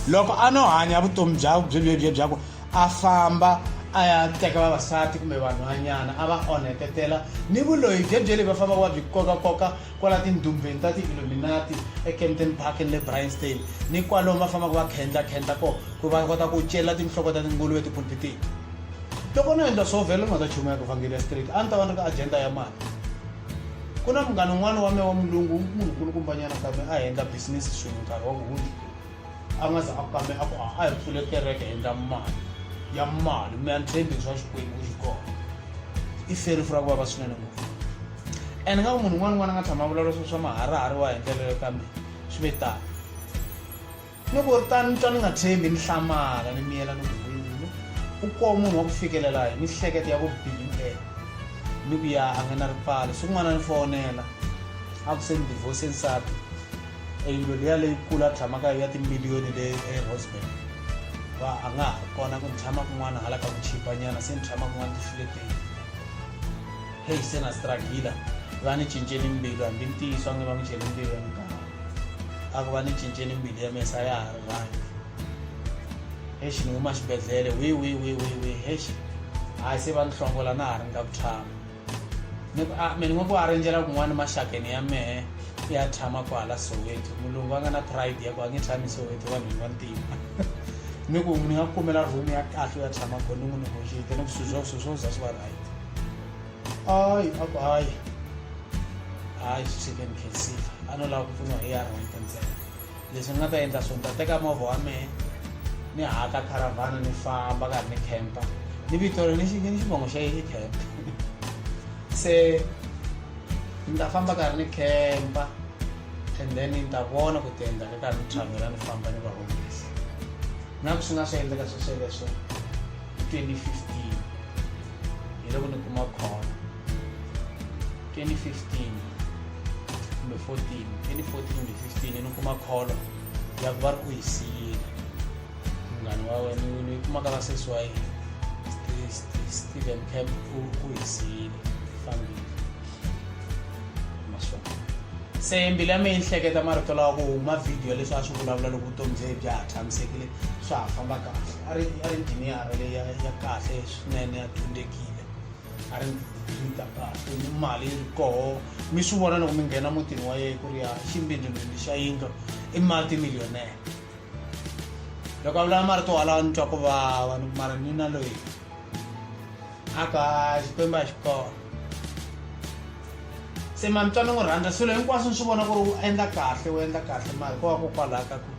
loko a no hanya vutomi bya byelebye bya ku a famba a ya teka vavasati kumbe vanhwanyana a va onhetetela ni vuloyi byebye leyi va famba va byi kokakoka kwala tindumbeni ta ti-illuminati ekempton park ni le brianstein ni kwalomu va fambaka va khendlakhendla ko ku va kota ku celela tinhloko ta tinguluve etipulpitini loko no endla swo vhela ni nga ta chumayaka vhangeli ya street a ni ta va ni ri ka agenda ya mali ku na munghana un'wana wa me wa mulungu munhu kulukumbanyana kambe a endla business swin'we nkarhi wa kuhundza a nga za a kambe a ku a a hi pfule kereke endla mali ya mali mi antshembi swa xikwembu ku xi kona i feri fura ku vava swinene ngopfu and nga ku munhu un'wana un'wana a nga tshama vulavula swo swa maharahari wa hi ndlela leyo kambe swi ve tani Loko ri tano ni twa ni nga tshembi, ni hlamala, ni miyela ni ku, N'wini, u koho munhu wa ku fikelela hi mihleketo ya vubihi nte! Ni ku ya a nge na ripfalo. Siku n'wana ni fowonela, a ku se ni divhose nsati, eyindlwini liya leyikulu a tshama ka yo ya timiliyoni le eRosebank, va a nga ha ri kona, ku ni tshama kun'wana hala ka ku chipanyana, se ni tshama kun'wana tifuleteni. Heyi, se na stragila, va ni cincele mbilu, hambi ntiyiso a nge va n'wi celi mbilu ya muganga. a ku va ni cinceni mbilu ya mesa ya ha ri vanhu exi ni huma xibedhlele wi wi wi wi wi exi hayi se va ni hlongola na ha ri nga ku tshama ni ku a mi ni nga ku a rinjela kun'wana maxakeni ya mehe ya tshama kwahala soweto mulungu a nga na pride ya ku a nge tshami soweto vanhwini va ntima ni ku ni nga kumela room ya kahle ya tshama ko ni n'wi negotiate ni ku swizwo swizwo za swi va right Hayi a ku hayi hayi swi tshike ni khensile a no lava ku pfuniwa hi yara wente ntsena leswi ni nga ta endla swona ta teka movha wa mehe ni haka caravana ni famba karhi ni campa ni vito ri ni ni xivongo xa yini camp se ni ta famba karhi ni campa and then ni ta vona ku tiendla ka karhi ni travela ni famba ni va humesa na ku swi nga swi endleka swesweleswo twenty fifteen hi loko ni kuma call 2015 kumbe 14 2014 kumbe 15 ni kuma call ya ku va ri ku hi siyile munghana wa wena ni kumaka va sesi wa yena steven camp u hi siyile fambile maswona se mbilu ya mina yi hleketa marito lawa ku huma vhidiyo leswi a swi vulavula loko vutomi bye bya ha tshamisekile swa ha famba kahle a ri a ri njhini ya kahle swinene ya dyondzekile a ri ndzi ta kahle ni mali yi ri koho mi swi vona loko mi nghena mutini wa yeye ku ri ya ximbindimindi xa yindlo i mati millionere loko a vulaa marito walawa ni twa ku vava ni mara ni na loyi a ka xikwembu a xi kona se ma mi twa ni n'wi rhandza swilo hinkwaswo ni swi vona ku ri u endla kahle u endla kahle mara ko va kokwalaho ka ku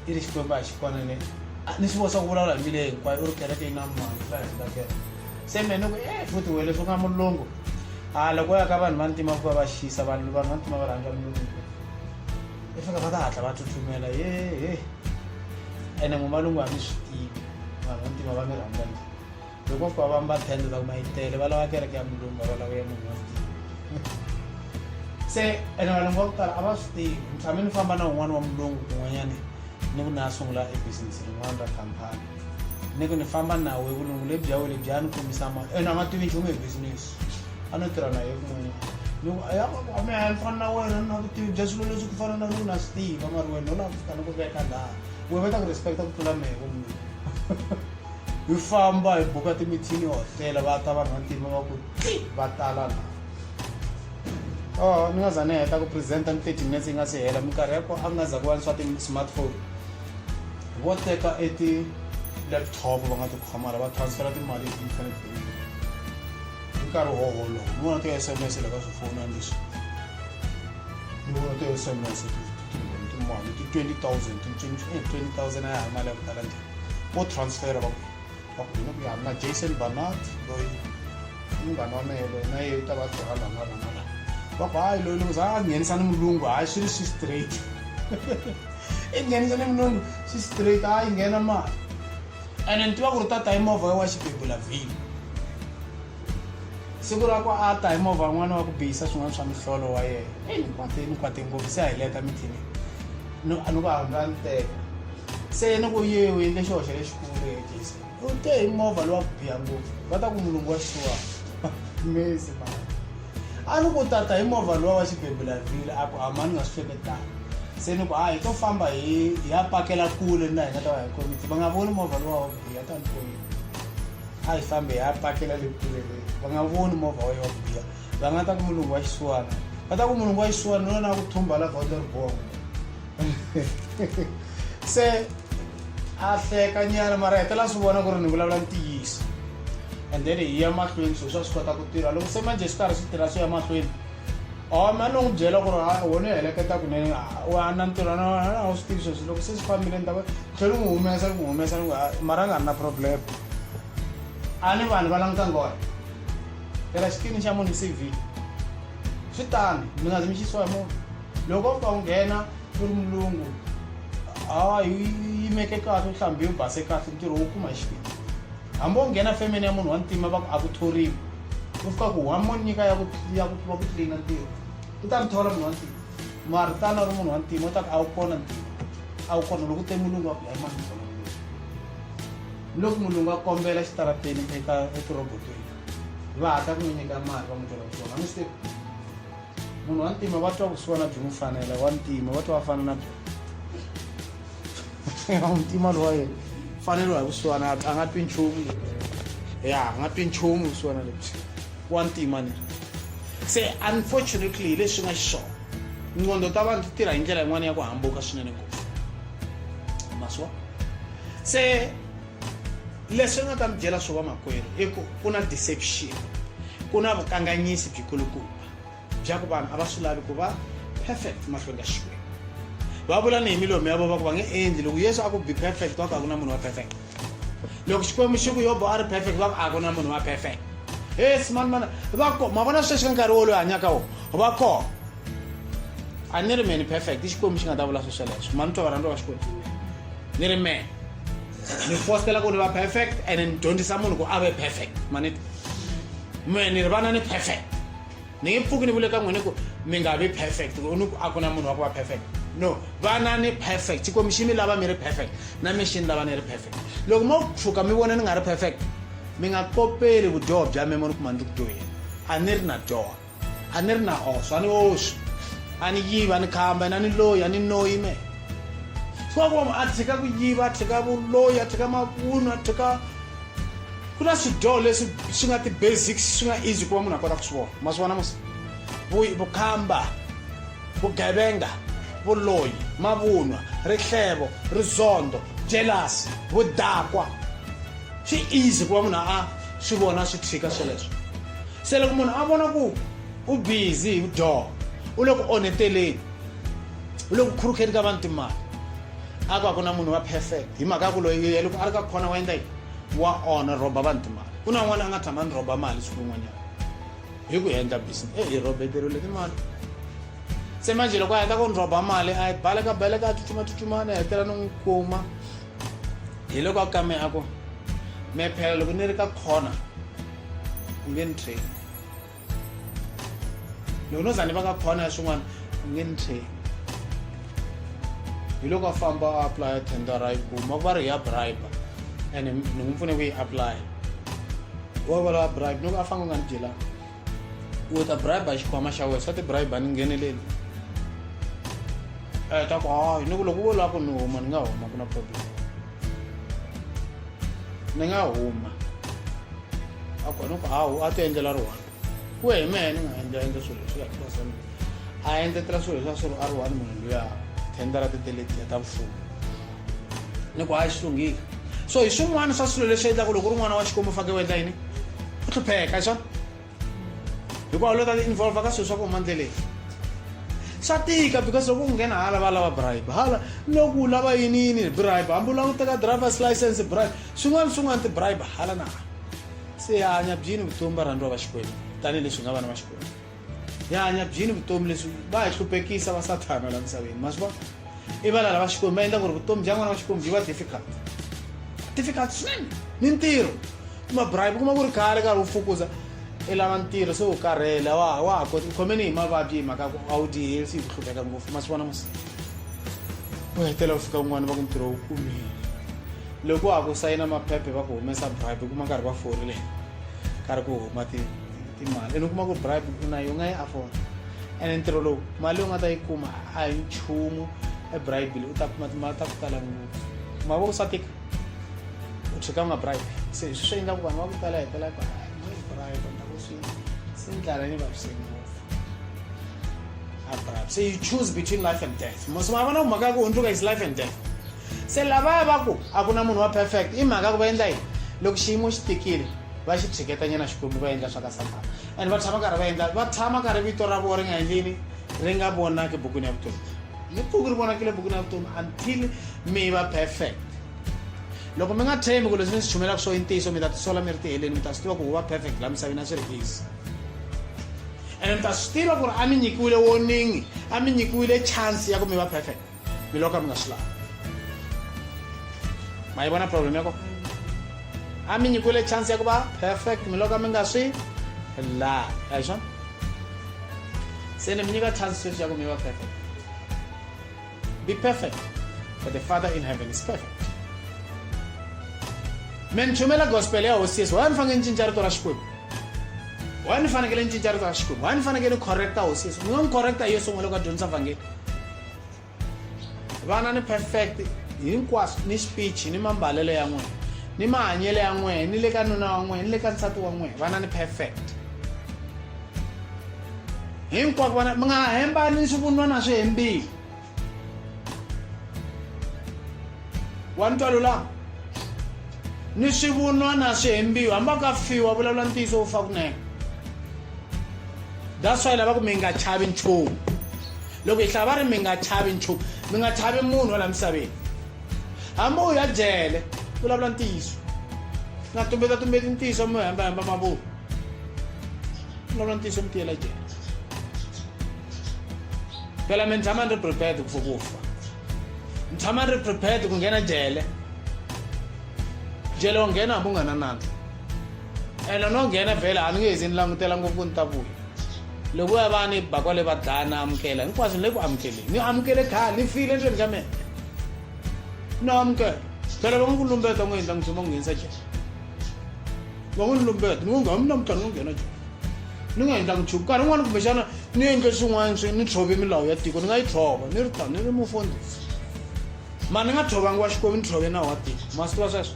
i ri xikwembu a xi kona ni ni swi vosa ku vulavula hi mile hinkwayo u ri kereke yi na mani la hi nga kereke se mina ni ku e futhi wena leswi u nga mulungu a loko ya ka vanhu va ntima ku va va xisa vanhu vanhu va ntima va rhandza mulungu i fika va ta hatla va tsutsumela yehe ene n'wimalungu a mi swi tivi vanhu va ntima va mi rhandza njhani Loko kwa va mba tende va mayitele va lava kereke ya mulungu va lava ya munhu se ene valungu va ku tala a va swi tivi ni tshame ni famba na un'wana wa mulungu kun'wanyani ni ku ni a sungula e business rin'wana ra khampani ni ku ni famba nawu hi vulungu lebyi ya we lebyi ya ni kombisa ma ene a nga tivi nchumu hi business a no tirha na ye kun'wanyana ni ku aya a mi haya ni fana na wena ni na vutivi bya swilo leswi ku fana na loko na swi tiva mari wena u lava ku fika ni ku veka laha we va ta ku respecta ku tlula mehe vo mulungu Hi famba hi buka timithini hotela va ta vanhu vantima va ku ti va tala la oh ni nga za ni heta ku presenta ni thirty minutes yi nga si hela minkarhi yako a nga za ku va ni swa ti-smartphone vo teka e ti-laptop va nga tikhamara va transfera timali hi ti-internet banking hi nkarhi wo wolowo ni vona ti-s m s le ka swifonani leswi ni vona ti-s m s timali ti-twenty thousand ti-twenty thousand a ya ha mali ya ku tala njhani vo transfera va va ku hina ku ya na jason banat loyi i munghana wa mehe loyi na yeyi ta va tirha laha na rona laha va ku hayi loyi loko za a nghenisa ni mulungu hayi swi ri swi straight i nghenisa ni mulungu swi straight a yi nghena mali ene ni tiva ku ri tata hi movha wa xibebula vhini siku ra ku a ta hi movha n'wana wa ku bihisa swin'wana swa mihlolo wa yena eyi ni kwate ni kwate ngopfu se a hi leta mithinini ni ku hambani teka se ni ku ye u endle xihoxo lexikulu hetisa u te hi movha lowa ku biya ngopfu va ta ku mulungu wa xisiwana mesi ma a ni ku tata hi movha lowa wa xibebulavhile a ku a ma ni nga swi hleketanga se ni ku a hi to famba hi hi ya pakela kule na hi nga ta va hi komiti va nga voni movha lowa wa ku biya ta ni komiti a hi fambe hi ya pakela le kule le va nga voni movha wa yo wa ku biya va nga ta ku mulungu wa xisiwana va ta ku mulungu wa xisiwana loyi na ku thumba la gondzo ri bongo se a hleka nyana mara hetela swi vona ku ri ni vulavula ntiyiso and then hi ya mahlweni swilo swa swi kota ku tirha loko se manje swi karhi swi tirha swi ya mahlweni or mani n'wi byela ku ri wona u heleketa kunene a na ntirhwana wena a wu swi tivi sweswi loko se swi fambile ni ta tlhela n'wi humesa ni n'wi humesa ni mara a nga ri na problem a ni vanhu va langutanga wona tirha xikini xa munhu cv swi tani mi nga zi mi xisiwa hi munhu loko u fika u nghena ku ri mulungu a yi yimeke kahle u hlambe u base kahle ntirho wu kuma hi xikini hambi u nghena femeni ya munhu wa ntima va ku a ku thoriwi u fika ku wa mo nyika ya ku ya ku va ku tlina ntirho u ta mi thola munhu wa ntima mara tani a ri munhu wa ntima u ta ku a wu kona ntima a wu kona loko u te mulungu wa ku ya emani loko mulungu a kombela xitarateni eka etirobotweni vahata kunonyeka mari vamutola kutona mistake munhu wantima va twa kusiwa na byimufanela wantima va twa va fana na byimuntima lowa yena fanelo hi kusiwana a nga twi nchumu ya a nga twi nchumu kusiwana lebyi wantima ni se unfortunately hi leswi nga xiswona nqondo ta vanhu ti tirha hi ndlela yin'wana ya ku hambuka swinene ngopfu maswa se leswi nga ta mi byela swo vamakwerhu i ku ku na deception ku na vukanganyisi byikulukumba bya ku vanhu a va swi lavi ku va perfect mahlweni ka xikwembu va vula ni hi milomu ya vona va ku va nge endli loko yesu a ku be perfect va ku a ku na munhu wa perfect loko xikwembu xi ku yobo a ri perfect va ku a ku na munhu wa perfect yes mani mani va ko ma vona sweswi ka nkarhi wo loyi hanyaka wo va ko a ni ri mani perfect i xikwembu xi nga ta vula swesweleswo mani twa varhandza va xikwembu ni ri mehe ni fostela ku ni va perfect and ni dyondzisa munhu ku a ve perfect maniti mehe ni ri vana ni perfect ni nge pfuki ni vule ka n'wini ku mi nga vi perfect ni ku a ku na munhu wa ku va perfect no vana ni perfect xikwembu xi mi lava mi ri perfect na mi xi ni lava ni ri perfect loko mo pfuka mi vona ni nga ri perfect mi nga kopeli vudyoho bya me mo ni kuma ni ri ku dyoheni a ni ri na dyoha a ni ri na oso a ni oxi a ni yivi a ni khamba ina ni loyi a ni noyi me swakwama a tshika ku yiva a tshika vuloyi a tshika mavunu a tshika ku na swidyoho leswi swi nga ti-basics swi nga easy ku va munhu a kota ku swi vona ma swi vona musi vukhamba vugevenga vuloyi mavunwa rihlelo rizondo jelasi vudakwa swi easy ku va munhu a swi vona swi tshika sweleswo se loko munhu a vona ku u busy hi door u le ku onheteleni u le ku khurukeni ka vanhu timali a ku a ku na munhu wa perfect hi mhaka ya ku loyi ye loko a ri ka khona wa endla yini wa onha rhoba vanhu timali ku na n'wana a nga tshama ni rhoba mali siku rin'wanyana hi ku endla business e hi rhobeteriwile timali se manje loko a heta ku ni rhoba mali a yi baleka baleka a tsutsuma tsutsumana a hetela ni n'wi kuma hiloko a kame a ku me phela loko ni ri ka corner u nge ni train loko no za ni va ka corner ya swin'wana u nge ni train hiloko a famba a aplya tendera yi kuma ku va ri hi ya bribe and ni n'wi pfune ku yi aplya wa valava bribe loko a fanga u nga ni dyelanga u ta bribe xikhwama xa wena swa ti bribe ni ngheneleli um ta ku hayi ni ku loko vo lava ku ni huma ni nga huma ku na problem ni nga huma a ku ni ku hawu a ti endlela ri one ku ya hi mehe ni nga endla endla swilo leswi ya kibasani a endletela swilo leswi a swi ri a ri one munhu luya thendara ti teletiya ta mfumo ni ku hayi swi lunghile so hi swin'wana swa swilo leswi endlaka loko ri n'wana wa xikwembu fake u endla yini u hlupheka hi swona hikuva lo ta ti involva ka swilo swa ku huma ndleleni swa tika because loko u nghena hala va lava bribe hala loku lava yini yini bribe hambi u lava ku teka drivers license bribe swin'wana swin'wana ti-bribe hala na hala se hanya byini vutomi va rhandziwa va xikwembu tanihileswi nga vana va xikwembu hi hanya byini vutomi leswi va hi hluphekisa va sathana la misaveni ma swi vona i vana lava xikwembu va endla ku ri vutomi bya n'wana wa xikwembu byi va difficult difficult swinene ni ntirho kuma bribe kuma ku ri khale karhi u fukuza i lava ntirho se u karhele wa wa ha koti u khomeni hi mavabyi hi mhaka ku a wu dyi helsi hi ku hlupheka ngopfu ma swi vona masi u hetela u fika kun'wana va ku ntirho wu kumile loko wa ha ku sayina maphephe va ku humesa bribe kuma nkarhi va forile karhi ku huma ti timali ene u kuma ku bribe u na yo nga yi afford ene ntirho lowu mali yo nga ta yi kuma a hi nchumu ebribile u ta kuma timali ta ku tala ngopfu ma vo swa tika u cheka u nga bribe se hi swi swi endlaku vanhu va ku tala hetela ku bribe ni ta ku swi se ni tlala ni vaviseni ngopfu a bribe se you choose between life and death mosoma a vona ku mhaka ya ku hundzuka is life and death se lavaya va ku a ku na munhu wa perfect i mhaka ku va endla yini loko xiyimo xi tikile va xi tshiketanyana xikwembu va endla swa ka sathana and va tshama karhi va endla va tshama karhi vito ra vona ri nga endlini ri nga vonaki bukwini ya vutomi ni pfuki ri vonakile bukwini ya vutomi until mi va perfect loko mi nga tshembi ku leswi mi swi chumelaka swo i ntiyiso mi ta tisola mi ri tiheleni mi ta swi tiva ku huva perfect laha misaveni a swi ri easy and mi ta swi tiva ku ri a mi nyikiwile warning a mi nyikiwile chance ya ku mi va perfect mi loka mi nga swi lavi ma yi vona problem ya ko a mi nyikiwile chance ya ku va perfect mi loka mi nga swi lavi a hi swona se ni mi nyika chance sweswi ya ku mi va perfect be perfect for the father in heaven is perfect me ni chumela gospel ya hosi yesu why ni fanekele ni cinca rito ra xikwembu why ni fanekele ni cinca rito ra xikwembu why ni fanekele ni correcta hosi yesu ni nga n'wi correcta hi yo sungula loko a dyondzisa vhangeli vana ni perfect hinkwaswo ni speech ni mambalelo ya n'wina ni mahanyelo ya n'wina ni le ka nuna wa n'wina ni le ka nsati wa n'wina vana ni perfect hinkwako vana mi nga hembani ni swivunwana swi hembile wa ni twa lulama ni swivunwana swi hembiwa hambi a ka fiwa vulavula ntiyiso wu fa kunene that's why lava ku mi nga chavi nchumu Loko hi hlaya va ri, Mi nga chavi nchumu. Mi nga chavi munhu wa laha misaveni. Hambi u ya jele, vulavula ntiyiso. U nga tumbetatsumbeti ntiyiso mi hembahemba mavunwa. Vulavula ntiyiso mi tiyela jele. Phela mi tshama ni ri prepared for ku fa. Mi tshama ni ri prepared ku nghena jele. Jele u nghena hambi u nga na nandza. Ene no nghena vhele a ni nge zi ni langutela ngopfu ku ni ta vuya. loko ya va ni bakwa le va dlaya na amukela hinkwaswo ni le ku amukeleni ni amukele khale ni file endzeni ka mina ni amukela phela va nga ku lumbeta n'wi endla n'witsoma n'wi nghenisa jele va n'wi ni lumbeta ni ngo ngami namuntlha ni ngo nghena jele ni nga endlangi nchumu nkarhi wun'wana kumbexana ni endle swin'wana swi ni tshove milawu ya tiko ni nga yi tshova ni ri tani ni ri mufundhisi mara ni nga tshovanga wa xikwembu ni tshove nawu wa tiko ma swi tiva sweswo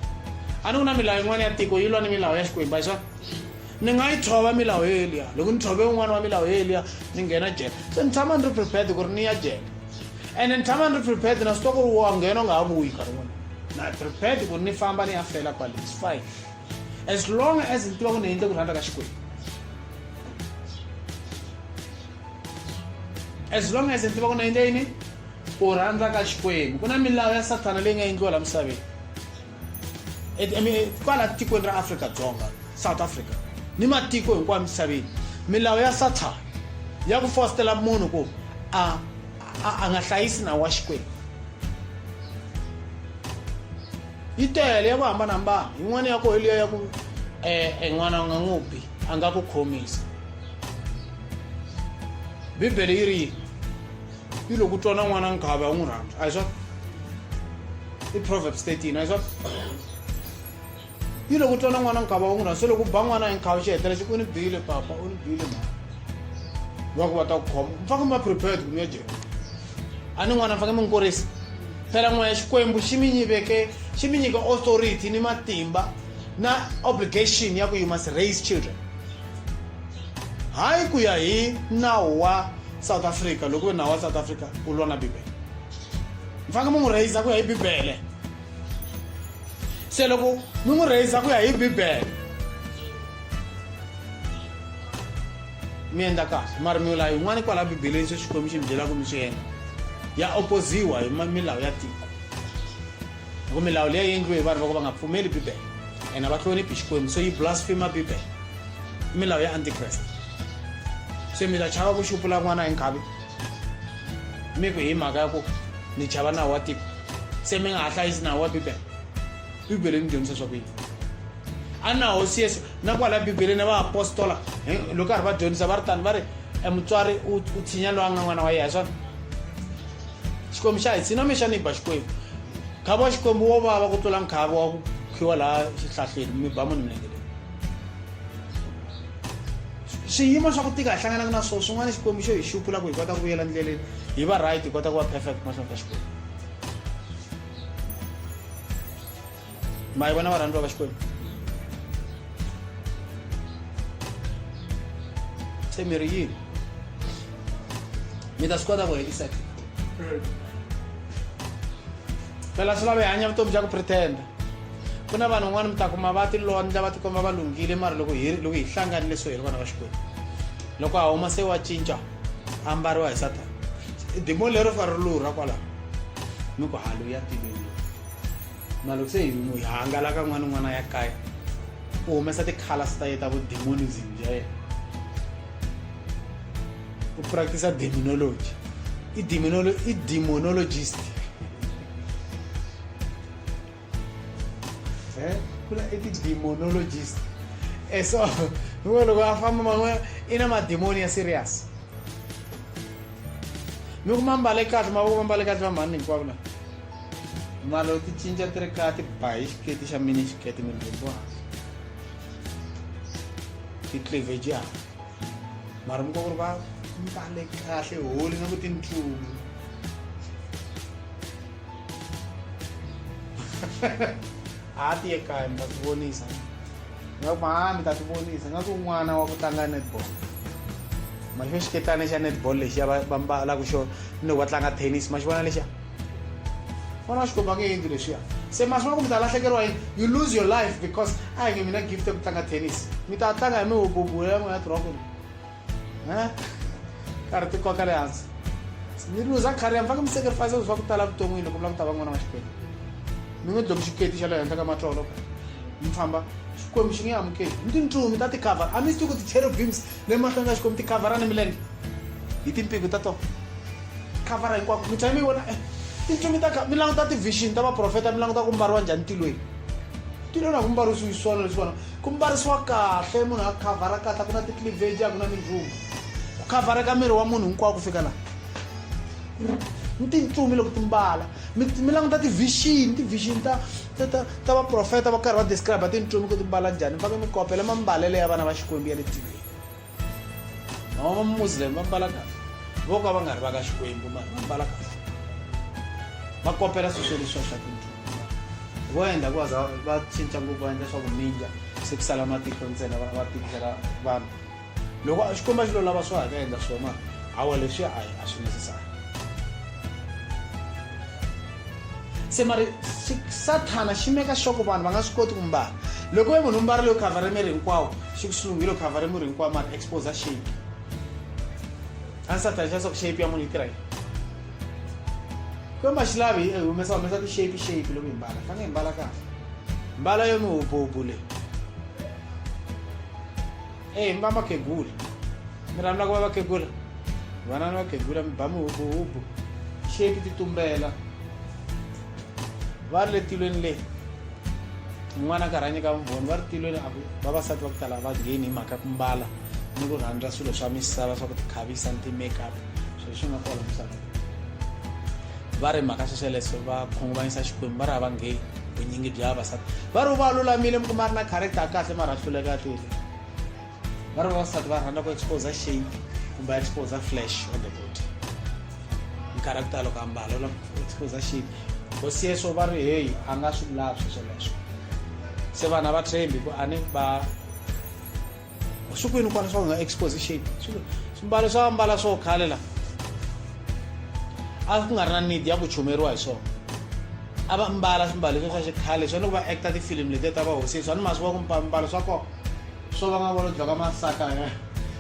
a ni ku na milawu yin'wana ya tiko yi lwa ni milawu ya xikwembu a yi swona ni nga yi tshova milawu yo yeliya loko ni tshove un'wana wa milawu yo yeliya ni nghena jele se ni tshama ni ri prepared ku ri ni ya jele ene ni tshama ni ri prepared na swi twa ku ri wa nghena u nga ha vuyi nkarhi wun'wana na prepared ku ni famba ni ya fela kwale is fine as long as ni tiva ku ni endle ku rhandza ka xikwembu as long as ni tiva ku ni endle yini ku rhandza ka xikwembu ku na milawu ya sathana leyi nga endliwa laha misaveni I mean, kwala tikweni ra afrika dzonga south africa ni matiko hinkwayo misaveni milawu ya sathana ya ku fositela munhu ku a a nga hlayisi nawu wa xikwembu yi tele ya ku hambanahambana yin'wana ya koho liya ya ku um n'wana u nga n'wi bi a nga ku khomisa bibele yi ri yini yi loko u twa na n'wana nkhavi a wu n'wi rhandza a hi swona i proverbs 13 a hi swona yi loko u twa na n'wana nkhavi a wu n'wi rhandza se loko u ba n'wana hi nkhavi xi hetela xi u ni bile papa u ni bile ma va ku va ta ku khoma mi faneke mi va prepared ku mi ya jehova a ni n'wana mi faneke mi n'wi kurisa phela n'wana ya xikwembu xi mi nyiveke xi mi nyika authority ni matimba na obligation ya ku you must raise children Hayi ku ya hi nawu wa South Africa loko nawu wa South Africa u lwa na Bibele. Mi fanekele mi n'wi rheyisa ku ya hi Bibele. Se loko mi n'wi rheyisa ku ya hi Bibele mi endla kahle mara milawu yin'wana kwala bibeleni swi xikwembu xi mi byelaka mi swi endla ya opoziwa hi milawu ya tiko hi ku milawu leyi endliwe hi vanhu va ku va nga pfumeli bibele and a va hloniphi xikwembu so yi blasphema bibele i milawu ya antikreste se mi ta chava ku xupula n'wana hi nkhavi mi ku hi mhaka ya ku ni chava nawu wa tiko se mi nga ha hlayisi nawu wa bibele bibele ni dyondzisa swa ku yini a na hosi yesu na kwala bibeleni va apostola loko karhi va dyondzisa va ri tani va ri e mutswari u tshinya loyi a nga n'wana wa yena hi swona xikwembu xa hi tshina mi xa ni ba xikwembu nkhavi wa xikwembu wo vava ku tlula nkhavi wa ku khiwa laha xihlahleni mi ba munhu milenge leyi swiyimo swa ku tika hi hlanganaka na swona swin'wana xikwembu xo hi xupula ku hi kota ku vuyela ndleleni hi va right hi kota ku va perfect mahlweni ka xikwembu mai vana varandwa va xikwembu se mi ri yini mi ta swi kota ku heliseka phela swi lava hi hanya vutomi bya ku pretenda ku na vanhu van'wana mi ta kuma va tilondla va tikomba va lunghile mara loko hi loko hi hlanganile so hi ri vana va xikwembu loko a huma se wa cinca a mbariwa hi satana dimo lero fa ri lurha kwalaho mi ku haluya tilweni Malukisa hi n'wi hangalaka n'wana un'wana ya kaya u humesa ti-colors ta ye ta vudemonism bya yena u practice demonology i demonolo i demonologist eh kula i demonologist e so loko loko a famba man'we i na mademoni ya serious mi ku ma mbale kahle mavoko ma mbale kahle va mhani hinkwavo lava Malo ti chinja tre kati pais ke ti shamini ke ti min bubu. Ti kleve ja. Marum ko kurba mpale kahle holi na kuti nchumu. Ati ye kaya mi ta ti vonisa. Nga ku mami ta ti vonisa nga ku n'wana wa ku tlanga netball. Mali xo xiketani xa netball lexiya va mbala ku xo ni loko va tlanga tennis ma xi vona lexiya. vona xikomba nge yindlu lexiya se masi ma ku mi ta lahlekeriwa yini you lose your life because a hi nge mina gift ya ku tlanga tennis mi ta tlanga hi mihububu ya n'wina tirhoko e karhi ti koka le hansi mi luza khariya mi faneke mi sacrifice swa ku tala vuton'wini loko mi lava ku ta va n'wana wa xikwembu mi n'wi dlomi xiketi xa le henhla ka matlolo mi famba xikwembu xi nge amukeli mi tintsumi ta ti-cover a mi swi tivi ku ti-cherobims Le mahlweni ka Xikwembu ti khavhara ni milenge hi timpiko ta tona khavhara hinkwako mi tshame mi vona eh, tintsumi ta mi languta ti-vision ta vaprofeta mi languta ku mbariwa njhani ntilweni ntilweni a ku mbarisiwi swona leswi vona ku mbarisiwa kahle munhu a khavhara kahle a ku na ti-clivage a ku na mindlungu ku khavhareka miri wa munhu hinkwawo ku fika laha ni tintsumi loko ti mbala mi languta ti-vision ti-vision ta ta ta ta vaprofeta va karhi va describe tintsumi ku ti mbala njhani mi fanele mi kopela mambalelo ya vana va xikwembu ya le tiveni mama va muslim va mbala kahle vo ka va nga ri va ka xikwembu ma va mbala kahle va kopela swilo swo leswiwa swa tintsumi vo endla ku va cinca ngopfu va endla swa ku mindya se ku sala matiko ntsena va tikela vanhu loko a xikwembu a xi lo lava swo haka endla swona hawa leswi a a swi necessary se mari sathana xi meka xoko vanhu va nga swi koti ku mbala loko ve munhu mbarile yo khavhare miri hinkwawo xi ku silunghile yo khavhare miri hinkwawo mari exposa shape a ni sathana xa swa ku shape ya munhu yi tirha yini kwemba xi lavi hi humesa humesa ti-shape shape loko hi mbala fange hi mbala kahle mbala yo mi hubhuhubhu leyi eyi mi va makhegula mi rhandza ku va vakhegula vana ni vakhegula mi ba mihubuhubu xeki ti tumbela va ri le tilweni le n'wana ka rhanye ka vumbhoni va ri tilweni a ku vavasati va ku tala va ngheni hi mhaka ku mbala ni ku rhandza swilo swa misava swa ku tikhavisa ni ti-makeup swilo swi nga kona misaveni va ri mhaka xexeleso va khunguvanyisa xikwembu va ri a va ngheni vunyingi bya vavasati va ri va lulamile mi kuma a ri na character ya kahle mara a hluleka a twile va ri vavasati va rhandza ku exposa shape kumbe a exposa flash on the body character loko ambala u lava ku exposa shape hosi yeso va ri heyi a nga swi lavi sweswo leswo se vana va tshembi ku a ni ba swi kwini kwana swa nga exposition swimbalo swa ambala swo khale la a ku nga ri na need ya ku chumeriwa hi swona a va mbala swimbalo swa xikhale swa loko va acta tifilimi letiya ta vahosi swa ni masi wa ku mbalo swa kona swo va nga volo dlaka masaka eh.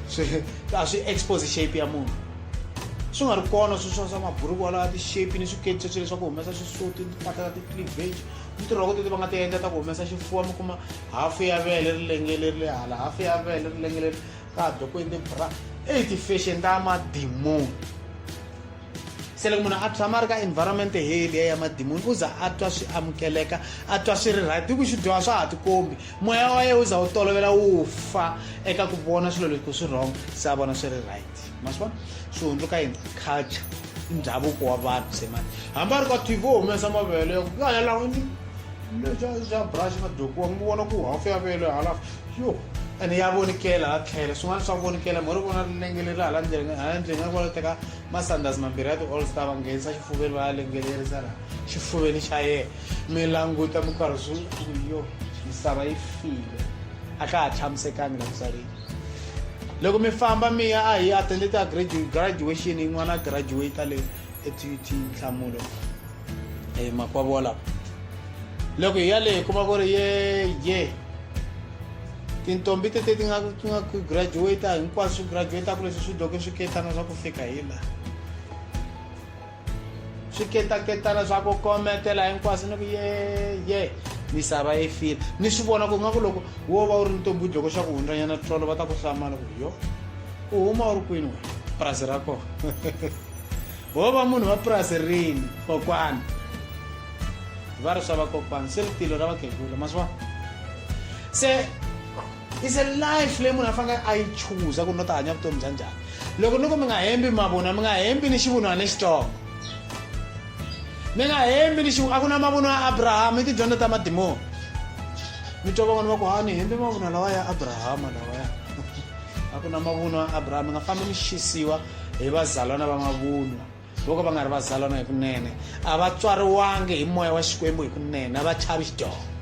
swi a swi expose shape ya munhu swi nga ri kona swi swa swa maburuku walawa ti-shape ni swiketso swi leswaku humesa xisuti ni timpahla ta ti-cleavage ni tirhoko teti va nga ti endla ta ku humesa xifuwa mi kuma hafu ya vele ri lengele ri le hala hafu ya vele ri lengele ka ha dokweni tibra eyi ti-fashion ta madimoni se loko munhu a tshama a ri ka environment heliya ya madimoni u za a twa swi amukeleka a twa swi ri right hi ku swi dyoha swa ha tikombi moya wa yena u za wu tolovela wu fa eka ku vona swilo leswi ku swi wrong se a vona swi ri right ma swi vona swi hundzuka yini culture i ndhavuko wa vanhu se mani hambi a ri ka tv wo humesa mavele ya ku ya ya lawini xa brush na dokiwa mi vona ku hafu ya vele halafu yo ene ya vonikela hala tlhela swin'wana swa vonikela mhori vona lengeleri hala ndleleni hala ndleleni nga vona teka masanders mambirhi ya ti-all star va nghenisa xifuveni va ya lengelerisa laha xifuveni xa yena mi languta mi karhi swi yo misava yi file a ka ha tshamisekangi la misaveni loko mi famba mi ya a hi attende ta graduation n'wana graduate le etut nhlamulo e makwavo wa lava loko hi ya le hi kuma ku ri ye ye tintombi tete ti nga ti nga ku graduate hinkwaswo swi graduate ku leswi swi doke swi ketana swa ku fika hi laha swiketaketana swa ku kometela hinkwaswo ni ku yeye misava yi file ni swi vona ku nga ku loko wo va u ri ni tobudi loko xa ku hundzanyana tolo va ta ku hlamala ku yo u huma u ri kwini wena purasi ra kona wo va munhu va purasi rini kokwana va ri swa vakokwana se ri tilo ra vakhegula ma swi vona se is a life leyi munhu a fanekele a yi chuza ku ni ta hanya vutomi bya njhani loko ni ku mi nga hembi mavunwa mi nga hembi ni xivunwa lexitsongo mi nga hembi ni xivunwa a ku na mavunwa ya abrahama i tidyondzo ta madimoni mi twa van'wana va ku ha ni hembi mavunwa lawa ya abrahama lawaya a ku na mavunwa ya abrahama mi nga fambi mi xisiwa hi vazalwana va mavunwa Voko va nga ri vazalwana hi kunene, a va tswariwangi hi moya wa Xikwembu hi kunene, a va chavi xidyoho.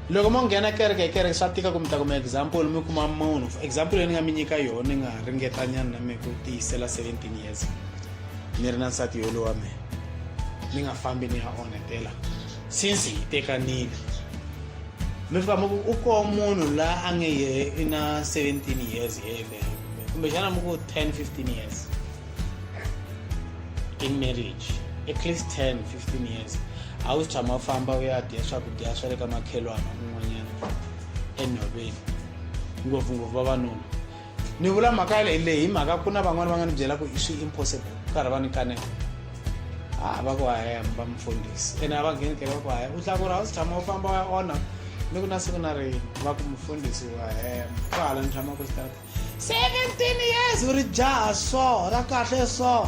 loko mo nghena kereke hi kereke swa tika ku mi ta kuma example mi kuma munhu example leyi ni nga mi nyika yona ni nga ringetanyana na mi ku tiyisela 17 years ni ri na nsati yolo wa mina ni nga fambi ni ya onhetela since hi tekanile mi fika mi ku u koho munhu la a nge yehe i na 17 years yele kumbexana mi ku 10 15 years in marriage at least 10 15 years a wu tshama famba u ya dya swakudya swa le ka makhelwana un'wanyana enhoveni ngopfungopfu vavanuna ni vula mhaka ya leyi leyi hi mhaka ku na van'wana va nga ni byela ku i swi impossible ku karhi va ni kanela a va ku haya va mufundhisi ene a va ngheni ke va ku haya u tlakura a wu si tshama u famba ya ona ni ku na siku na rini va ku mufundhisi wa hema ku hala ni tshama ku xitata seventeen years u ri jaha so ra kahle so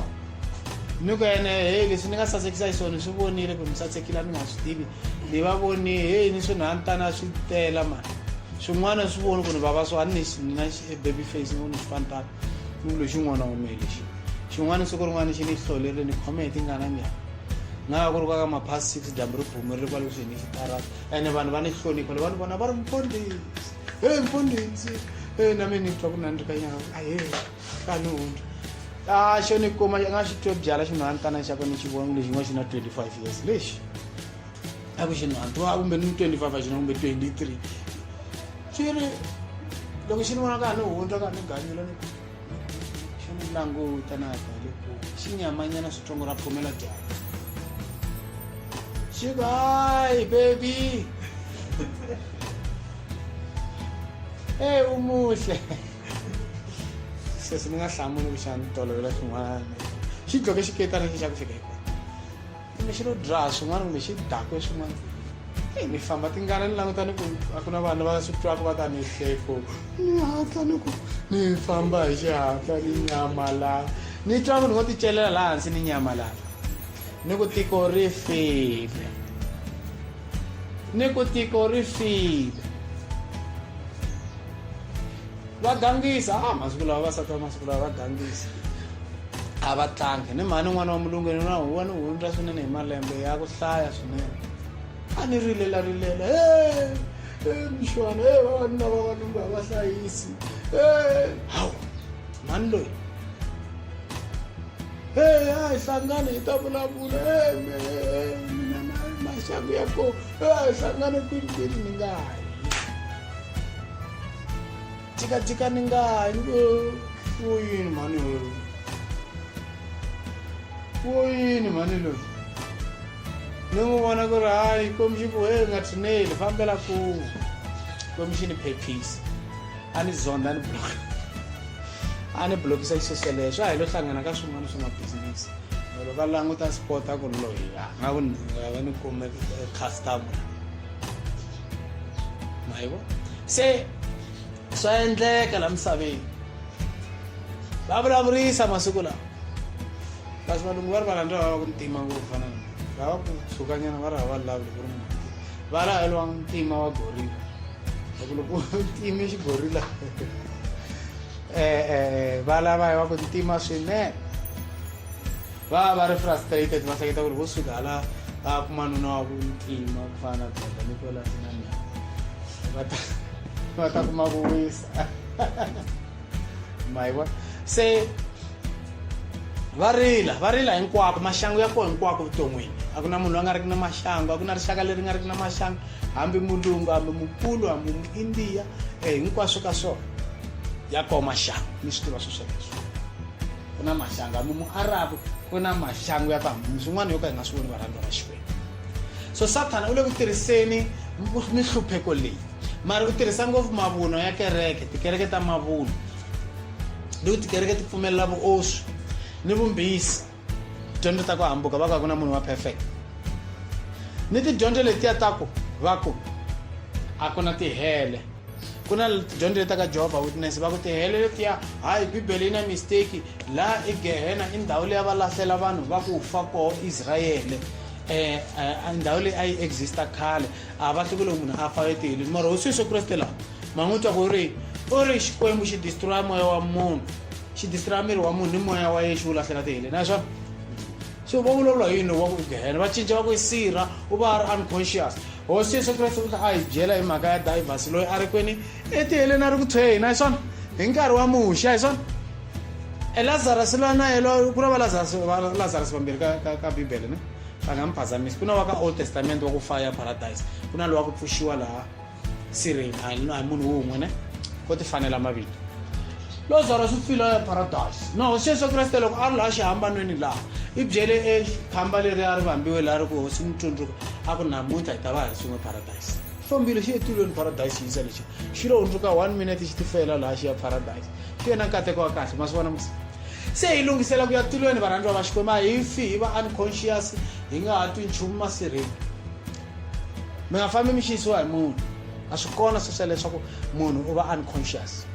ni ku ene heyi leswi ni nga sasekisa hi swona swi vonile ku ni sasekile a ni nga swi tivi ni va voni heyi ni swi nhani tana swi tela mani swin'wana swi voni ku ni vava swo a ni na e baby face ni voni swifani tana ni ku lexi n'wana wume lexi xin'wana siku rin'wana xi ni hlolerile ni khome hi tingana njhani nga va ku ri kwaka maphasi six dyambu ri bumerile kwale kusuhi ni xitarata ene vanhu va ni hlonipha le va ni vona va ri mfondisi e mfondisi e na mina ni twa ku nani ri ka nyanga a ye kanoti ah xo ni kuma nga xi twe byala xinhantana xa kona xi vona lexi nga xi na 25 years lexi a ku xinhantu a kumbe ni 25 a xi na kumbe 23 xi ri loko xi ni vona ka ni hundza ka ni ganyula ni xi ni languta na ta le ku xi nyamanyana switsongo ra phumela dyaka xi ku hayi baby eyi umuhle sweswi ni nga hlamuli ku xana tolovela xin'wana xi dloke xiketana xi xa ku fika hikwani kumbe xi lo dra swin'wana kumbe xi dakwe swin'wana eyi ni famba tingana ni languta ni ku a ku na vanhu va swi twaka va ta ni hleko ni hatla ni ku ni famba hi xihatla ni nyamalala ni twa munhu vo ti celela laha hansi ni nyamalala ni ku tiko ri file ni ku tiko ri file va gangisa a ah, masiku lawa vasati va masiku lawa va gangisa a va tlangi ni mhani n'wana wa mulungeni na huwa ni hundza swinene hi malembe ya ku hlaya swinene a ni rilela rilela e mixwana e vavanuna vavanuna va hlayisi e hawu mhani loyi Hey, a hi hlangane hi ta vulavula hey, me, hey, mina ma- maxangu ya ko hey, a hi hlangane kwinikwini ni nga ha yi jikajika ni nga ha yi ni ku wo yini mhani loyi wo yini mhani loyi ni n'wi vona ku ri hayi komixini ku he nga tshineli fambela ku komixini phephisa a ni zonda ni block a ni blokisa xiseleyo swa hi lo hlangana ka swin'wana swa mabizinisi loko a languta sport a ku ri loyi a nga ku va ni kume eh, customer ma yi vo se swa endleka la misaveni va vulavurisa masiku lawa kasi valungu va ri va rhandza va va ku ntima ngopfu fana na va va ku tshukanyana va ri hava vulavuli ku ri munhu va lavelwa ntima wa gorila loko loko u time xigorila um va lava hi va ku ntima swinene va va ri frustrated va hleketa ku ri vo suka hala va kuma nuna wa ku ntima ku fana na baba ni kwela sinanyana va ta va ta kuma ku wisa mayiwa se va rila va rila hinkwako maxangu ya kona hinkwako vuton'wini a ku na munhu loyi a nga riki na maxangu a ku na rixaka leri nga riki na maxangu hambi mulungu hambi mukulu hambi muindiya um eh, hinkwaswo ka swona ya koho maxangu mi swi tiva swo sweleswo ku na maxangu hambi muarabu ku na maxangu ya ku hambi swin'wana yo ka hi nga swi voni varhandza va xikwembu so sathana u le ku tirhiseni minhlupheko leyi mara ku tirhisa ngopfu mavunwa ya kereke tikereke ta mavunwa ni ku tikereke ti pfumelela vuoswi ni vumbhisi tidyondzo ta ku hambuka va ku a ku na munhu wa perfect ni tidyondzo letiya ta ku va ku a ku na tihele ku na tidyondzo leti ta ka jehovha witness va ku tihele letiya hayi bibele yi na mistake laha i gehena i ndhawu leyi va lahlela vanhu va ku fa koho israyele um ndhawu leyi a yi exista khale a va hlukile munhu a fa etihilini mara hosi yesu kreste laha ma n'wi twa ku ri u ri xikwembu xi distroya moya wa munhu xi distroya miri wa munhu ni moya wa yena xi wu lahlela tihilini a swona so va vulavula hi yini wa ku gehena va cinca va ku sirha u va a ri unconscious hosi yesu kreste u ta a hi byela hi mhaka ya divers loyi a ri kwini etiheleni a ri ku tshweyini a swona hi nkarhi wa muxa hi swona elazarus loyi na yelo ku ri valazarus vambirhi ka bibele ne va nga mi phazamisi ku na wa ka old testament wa ku faya paradise ku na lowa ku pfuxiwa laha sireni a hi munhu wun'we ne ko ti fanela mavito lozaro swi pfilo ya paradise no xeso kreste loko a ri laha xihambanweni laha i byele ekhamba leri a ri vambiwe laha ri ku hosi mutsundzuka a ku namuntlha hi ta va hi swin'we paradise fambile xi etilweni paradise xi yisa lexi xi lo hundzuka one minute xi tifela laha xi ya paradise xi yena nkateko wa kahle ma swi vona Se hi lunghisela ku ya tilweni varhandziwa va Xikwembu, a hi fi hi va unconscious, hi nga ha twi nchumu masirheni. Mi nga fambi mi xiyisiwa hi munhu, a swi kona sweswo leswaku munhu u va unconscious.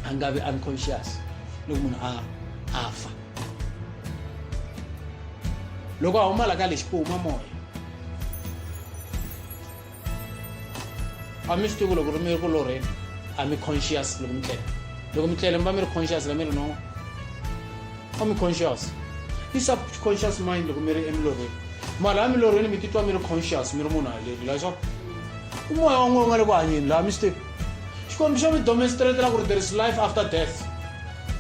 A nga vi unconscious loko munhu a a fa. Loko a huma la ka lexi ku huma moya. a mi swi tivi loko ri mi ri ku lorheni a mi conscious loko mi tlele loko mi tlele mi va mi ri conscious la mi ri no a mi conscious i subconscious mind loko mi ri emilorheni mara a milorheni mi titwa mi ri conscious mi ri munhu haleni la swa i moya wa n'we u nga le ku hanyeni laha mi swi tivi xikwembu xo mi domenstratela ku ri there is life after death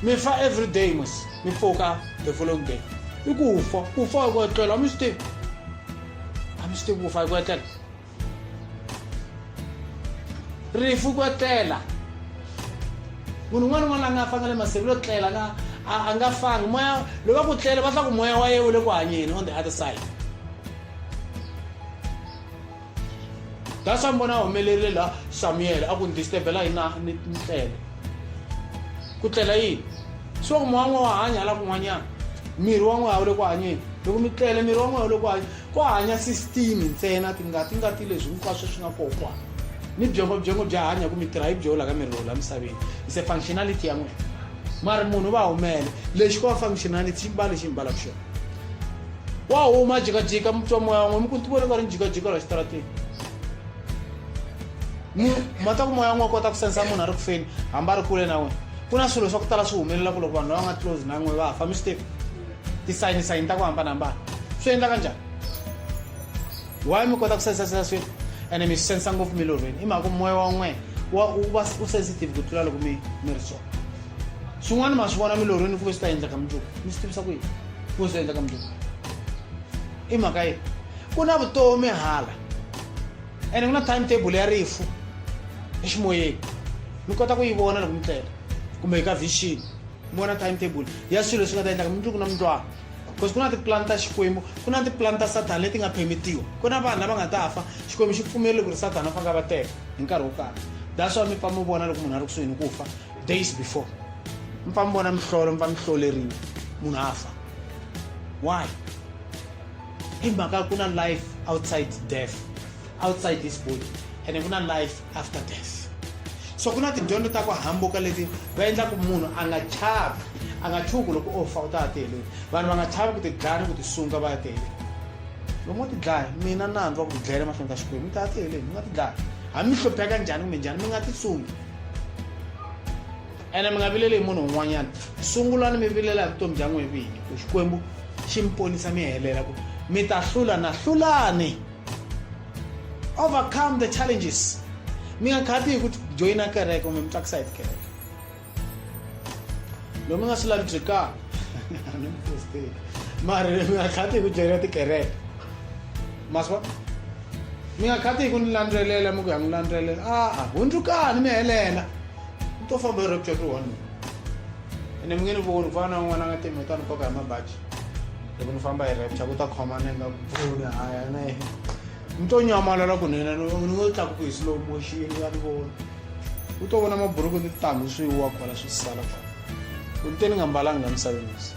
mi fa every day mos mi pfuka the following day i ku fa ku fa hi ku etlela mi swi tivi I'm still with Agwetel. Rifu Gwetela. Munhu un'wana un'wana la nga fanga le masiku lo tlela nga a nga fangi moya loko va ku tlela va tla ku moya wa ye wu le ku hanyeni on the other side that's why mbona a humelerile la samuel a ku ni disturbela yina ni tlele ku tlela yini swi va ku moya n'we wa hanya hala kun'wanyana miri wa n'we a wu le ku hanyeni loko mi tlele miri wa n'we wu le ku hanya ku hanya system ntsena tingati ngati leswi hinkwaswo swi nga koho ku hanya ni byongo byongo bya hanya ku mi tirha hi byoho la ka miri lowu la misaveni is a functionality ya n'wina mari munhu va humele lexi ko va functionality xi mbale xi mbalaka xona wa huma jikajika mi twa moya wa n'we mi ku ntivo loko a ri njikajika la xitarateni ma ta ku moya n'we kota ku sensa munhu a ri ku feni hambi a ri kule na wena ku na swilo swa ku tala swi humelela ku loko vanhu lava nga close na n'we va fa mi swi tivi tisayini sayini ta ku hambanahambana swi endla ka njhani why mi kota ku sensa sensa swilo ene mi swi sensa ngopfu mi loveni i mhaka ku moya wa n'we wa u va u sensitive ku tlula loko mi mi ri swona swin'wana ma swi vona milorhweni ku ve swi ta endleka mundzuku mi swi tivisa ku yini ku swi endleka mundzuku i mhaka yini ku na vutomi hala ene ku na time table ya rifu eximoyeni mi kota ku yi vona loko mi tlela kumbe hi ka vision mi vona time table ya swilo leswi nga ta endlaka mundzuku na mundwana because ku na tipulani ta xikwembu ku na tipulani ta sathana leti nga phemitiwa ku na vanhu lava nga ta fa xikwembu xi pfumerile ku ri sathana a fanga va teka hi nkarhi wo karhi that's why mi pfa mi vona loko munhu a ri kusuhini ku fa days before mi pfa mi vona mihlolo mi pfa mi hloleriwa munhu a fa Why? Hi mhaka ku na life outside death, outside this body ene ku na life after death. So ku na tidyondzo ta ku hambuka leti va endlaku munhu a nga chavi, a nga chuhi ku loko o fa u ta ya tiheleni. Vanhu va nga chavi ku tidlaya ni ku tisunga va ya tiheleni. Loko mo tidlaya mina nandzu wa ku tidlayela mahlweni ka Xikwembu mi ta ya tiheleni mi nga tidlaya. Hambi mi hlupheka njhani kumbe njhani mi nga tisungi. ene mi nga vileli hi munhu un'wanyana sungulani mi vilela hi vutomi bya n'wini vinyi ku xikwembu xi mi ponisa mi helela ku mi ta hlula na hlulani overcome the challenges mi nga khati hi ku joyina kereke kumbe mi tsakisa hi tikereke loyi mi nga swi lavi byekaka mara mi nga khati hi ku joyina tikereke maswa mi nga khati hi ku ni landzelela mi ku ya n'wi landzelela a-a hundzukani mi helela u to famba hi rapture to one ene mi nge ni voni ku fana na un'wana a nga temi ta ni koka hi mabaji loko ni famba hi rapture ku ta khoma ni nga voni haya na yena mi to nyamalala kunene ni ngo tlakuku hi slow motion ya ni vona u to vona maburuku ni titanghu swi wa kwala swi sala kwala u te ni nga mbalanga la misaveni misi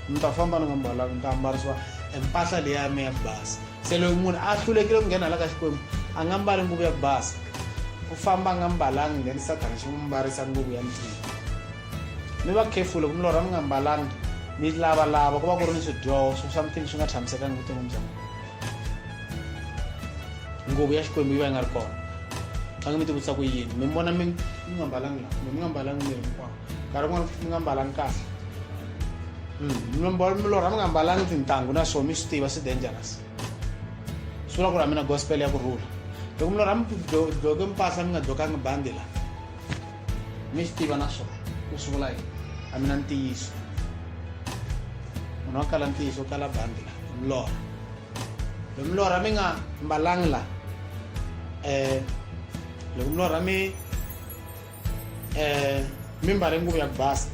mi ta famba ni nga mbalanga ni ta ambarisiwa empahla leyi ya mi ya basa Se loyi munhu a hlulekile ku nghena hala ka Xikwembu a nga mbali nguvu ya ku basa. U famba a nga mbalanga then Sathana xi n'wi mbarisa nguvu ya ntima. Mi va careful loko mi lorha mi nga mbalanga mi lavalava ku va ku ri ni swidyoho swo something swi nga tshamisekanga vuton'wini bya n'wina. Nguvu ya Xikwembu yi va yi nga ri kona. Faneke mi tivutisa ku yini mi vona mi mi nga mbalanga laha kumbe mi nga mbalanga miri hinkwawo. nkarhi wun'wana mi nga mbalangi kahle mm, milorha mi nga mbalangi tintangu na swona mi swi tiva swi dangerous swi vula ku ri a mi na gospel ya ku rhula loko milorha mi dloke mpahla mi nga dlokangi bandi la mi swi tiva na swona ku swi vula yini a mi na ntiyiso munhu wa kala ntiyiso kala bandi la milorha loko milorha mi nga mbalangi la um loko milorha mi eh mimbari nguvu ya kubasa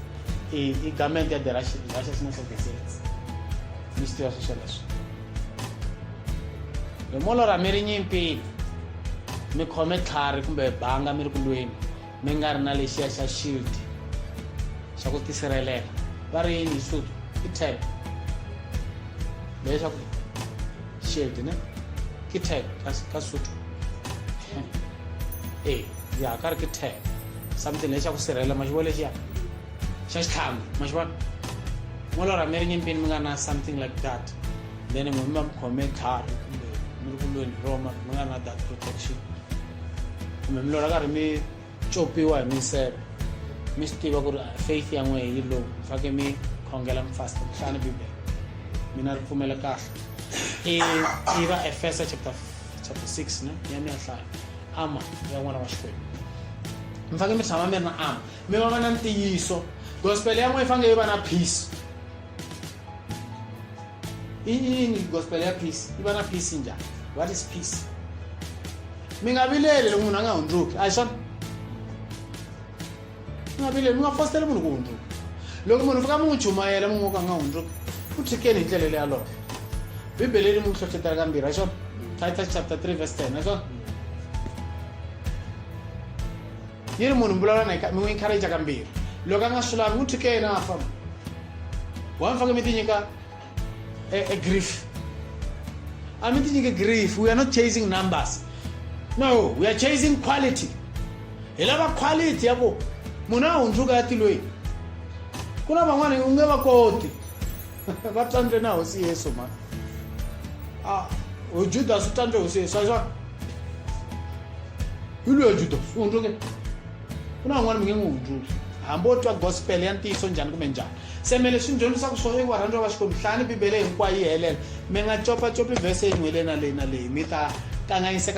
i, i garment ya the Russian, Russian National Defense mi swi tiva sweswo leswi hi molora mi ri nyimpini mi khome tlhari kumbe banga mi ri ku lweni mi nga ri na lexiya xa shield xa ku tisirhelela va ri yini hi xisuthu i tab leswaku shield ne ke tag ka sutu ee eh, ya ka re ke tag something le xa ku sirhelela ma xi vona lexiya xa xitlhamu ma xi vona mo lora mi ri nyimpini mi nga na something like that then n'we mi va mi khome tlhari kumbe mi ri kulweni roma mi nga na that protection kumbe mi lora karhi mi copiwa hi minseve mi swi tiva ku ri faith ya n'wehe yi lowu fake mi khongela mi fasta mi hlaya ni bibele mina ri pfumela kahle i va efesa chapter chapter 6 ne ya mi ya hlaya ama ya n'wana wa xikwembu mi faneke mi tshama mi ri na ama mi va va na ntiyiso gospel ya n'wehe faneke yi va na peace iyini gospel ya peace yi va na peace njhani what is peace mi nga vileli loko munhu a nga hundzuki a hi swona mi nga vileli mi nga fositeli munhu ku hundzuka loko munhu fika mi n'wi chumayela mi n'wi ka a nga hundzuki u tshikeni hi ndlela leyi yalowo bibele ri mi n'wi hlohlotela kambirhi a swona titus chapter 3 verse 10 a swona ni ri munhu mi vulavula na mi n'wi encourage kambirhi loko a nga swi lavi n'wi thike yena a famba wa mi faneke mi ti nyika e, e grief a mi ti nyike grief we are not chasing numbers no we are chasing quality hi lava quality ya ku munhu a hundzuka ya tilweni ku na van'wana u nge va koti va tlandle na hosi yesu mhani a ujudas u tlandle hosi yesu axa hi loyi judas u hundzuke ku na van'wana mi nge n'wi hundzuki hambi wo twa gospel ya ntiyiso njhani kumbe njhani se me leswi ni dyondzisaka swona i ku varhandziwa va xikwembu hlaya ni bibele hinkwayo yi helela mi nga copacopi vhese yin'we leyi na leyi na leyi mi ta kanganyiseka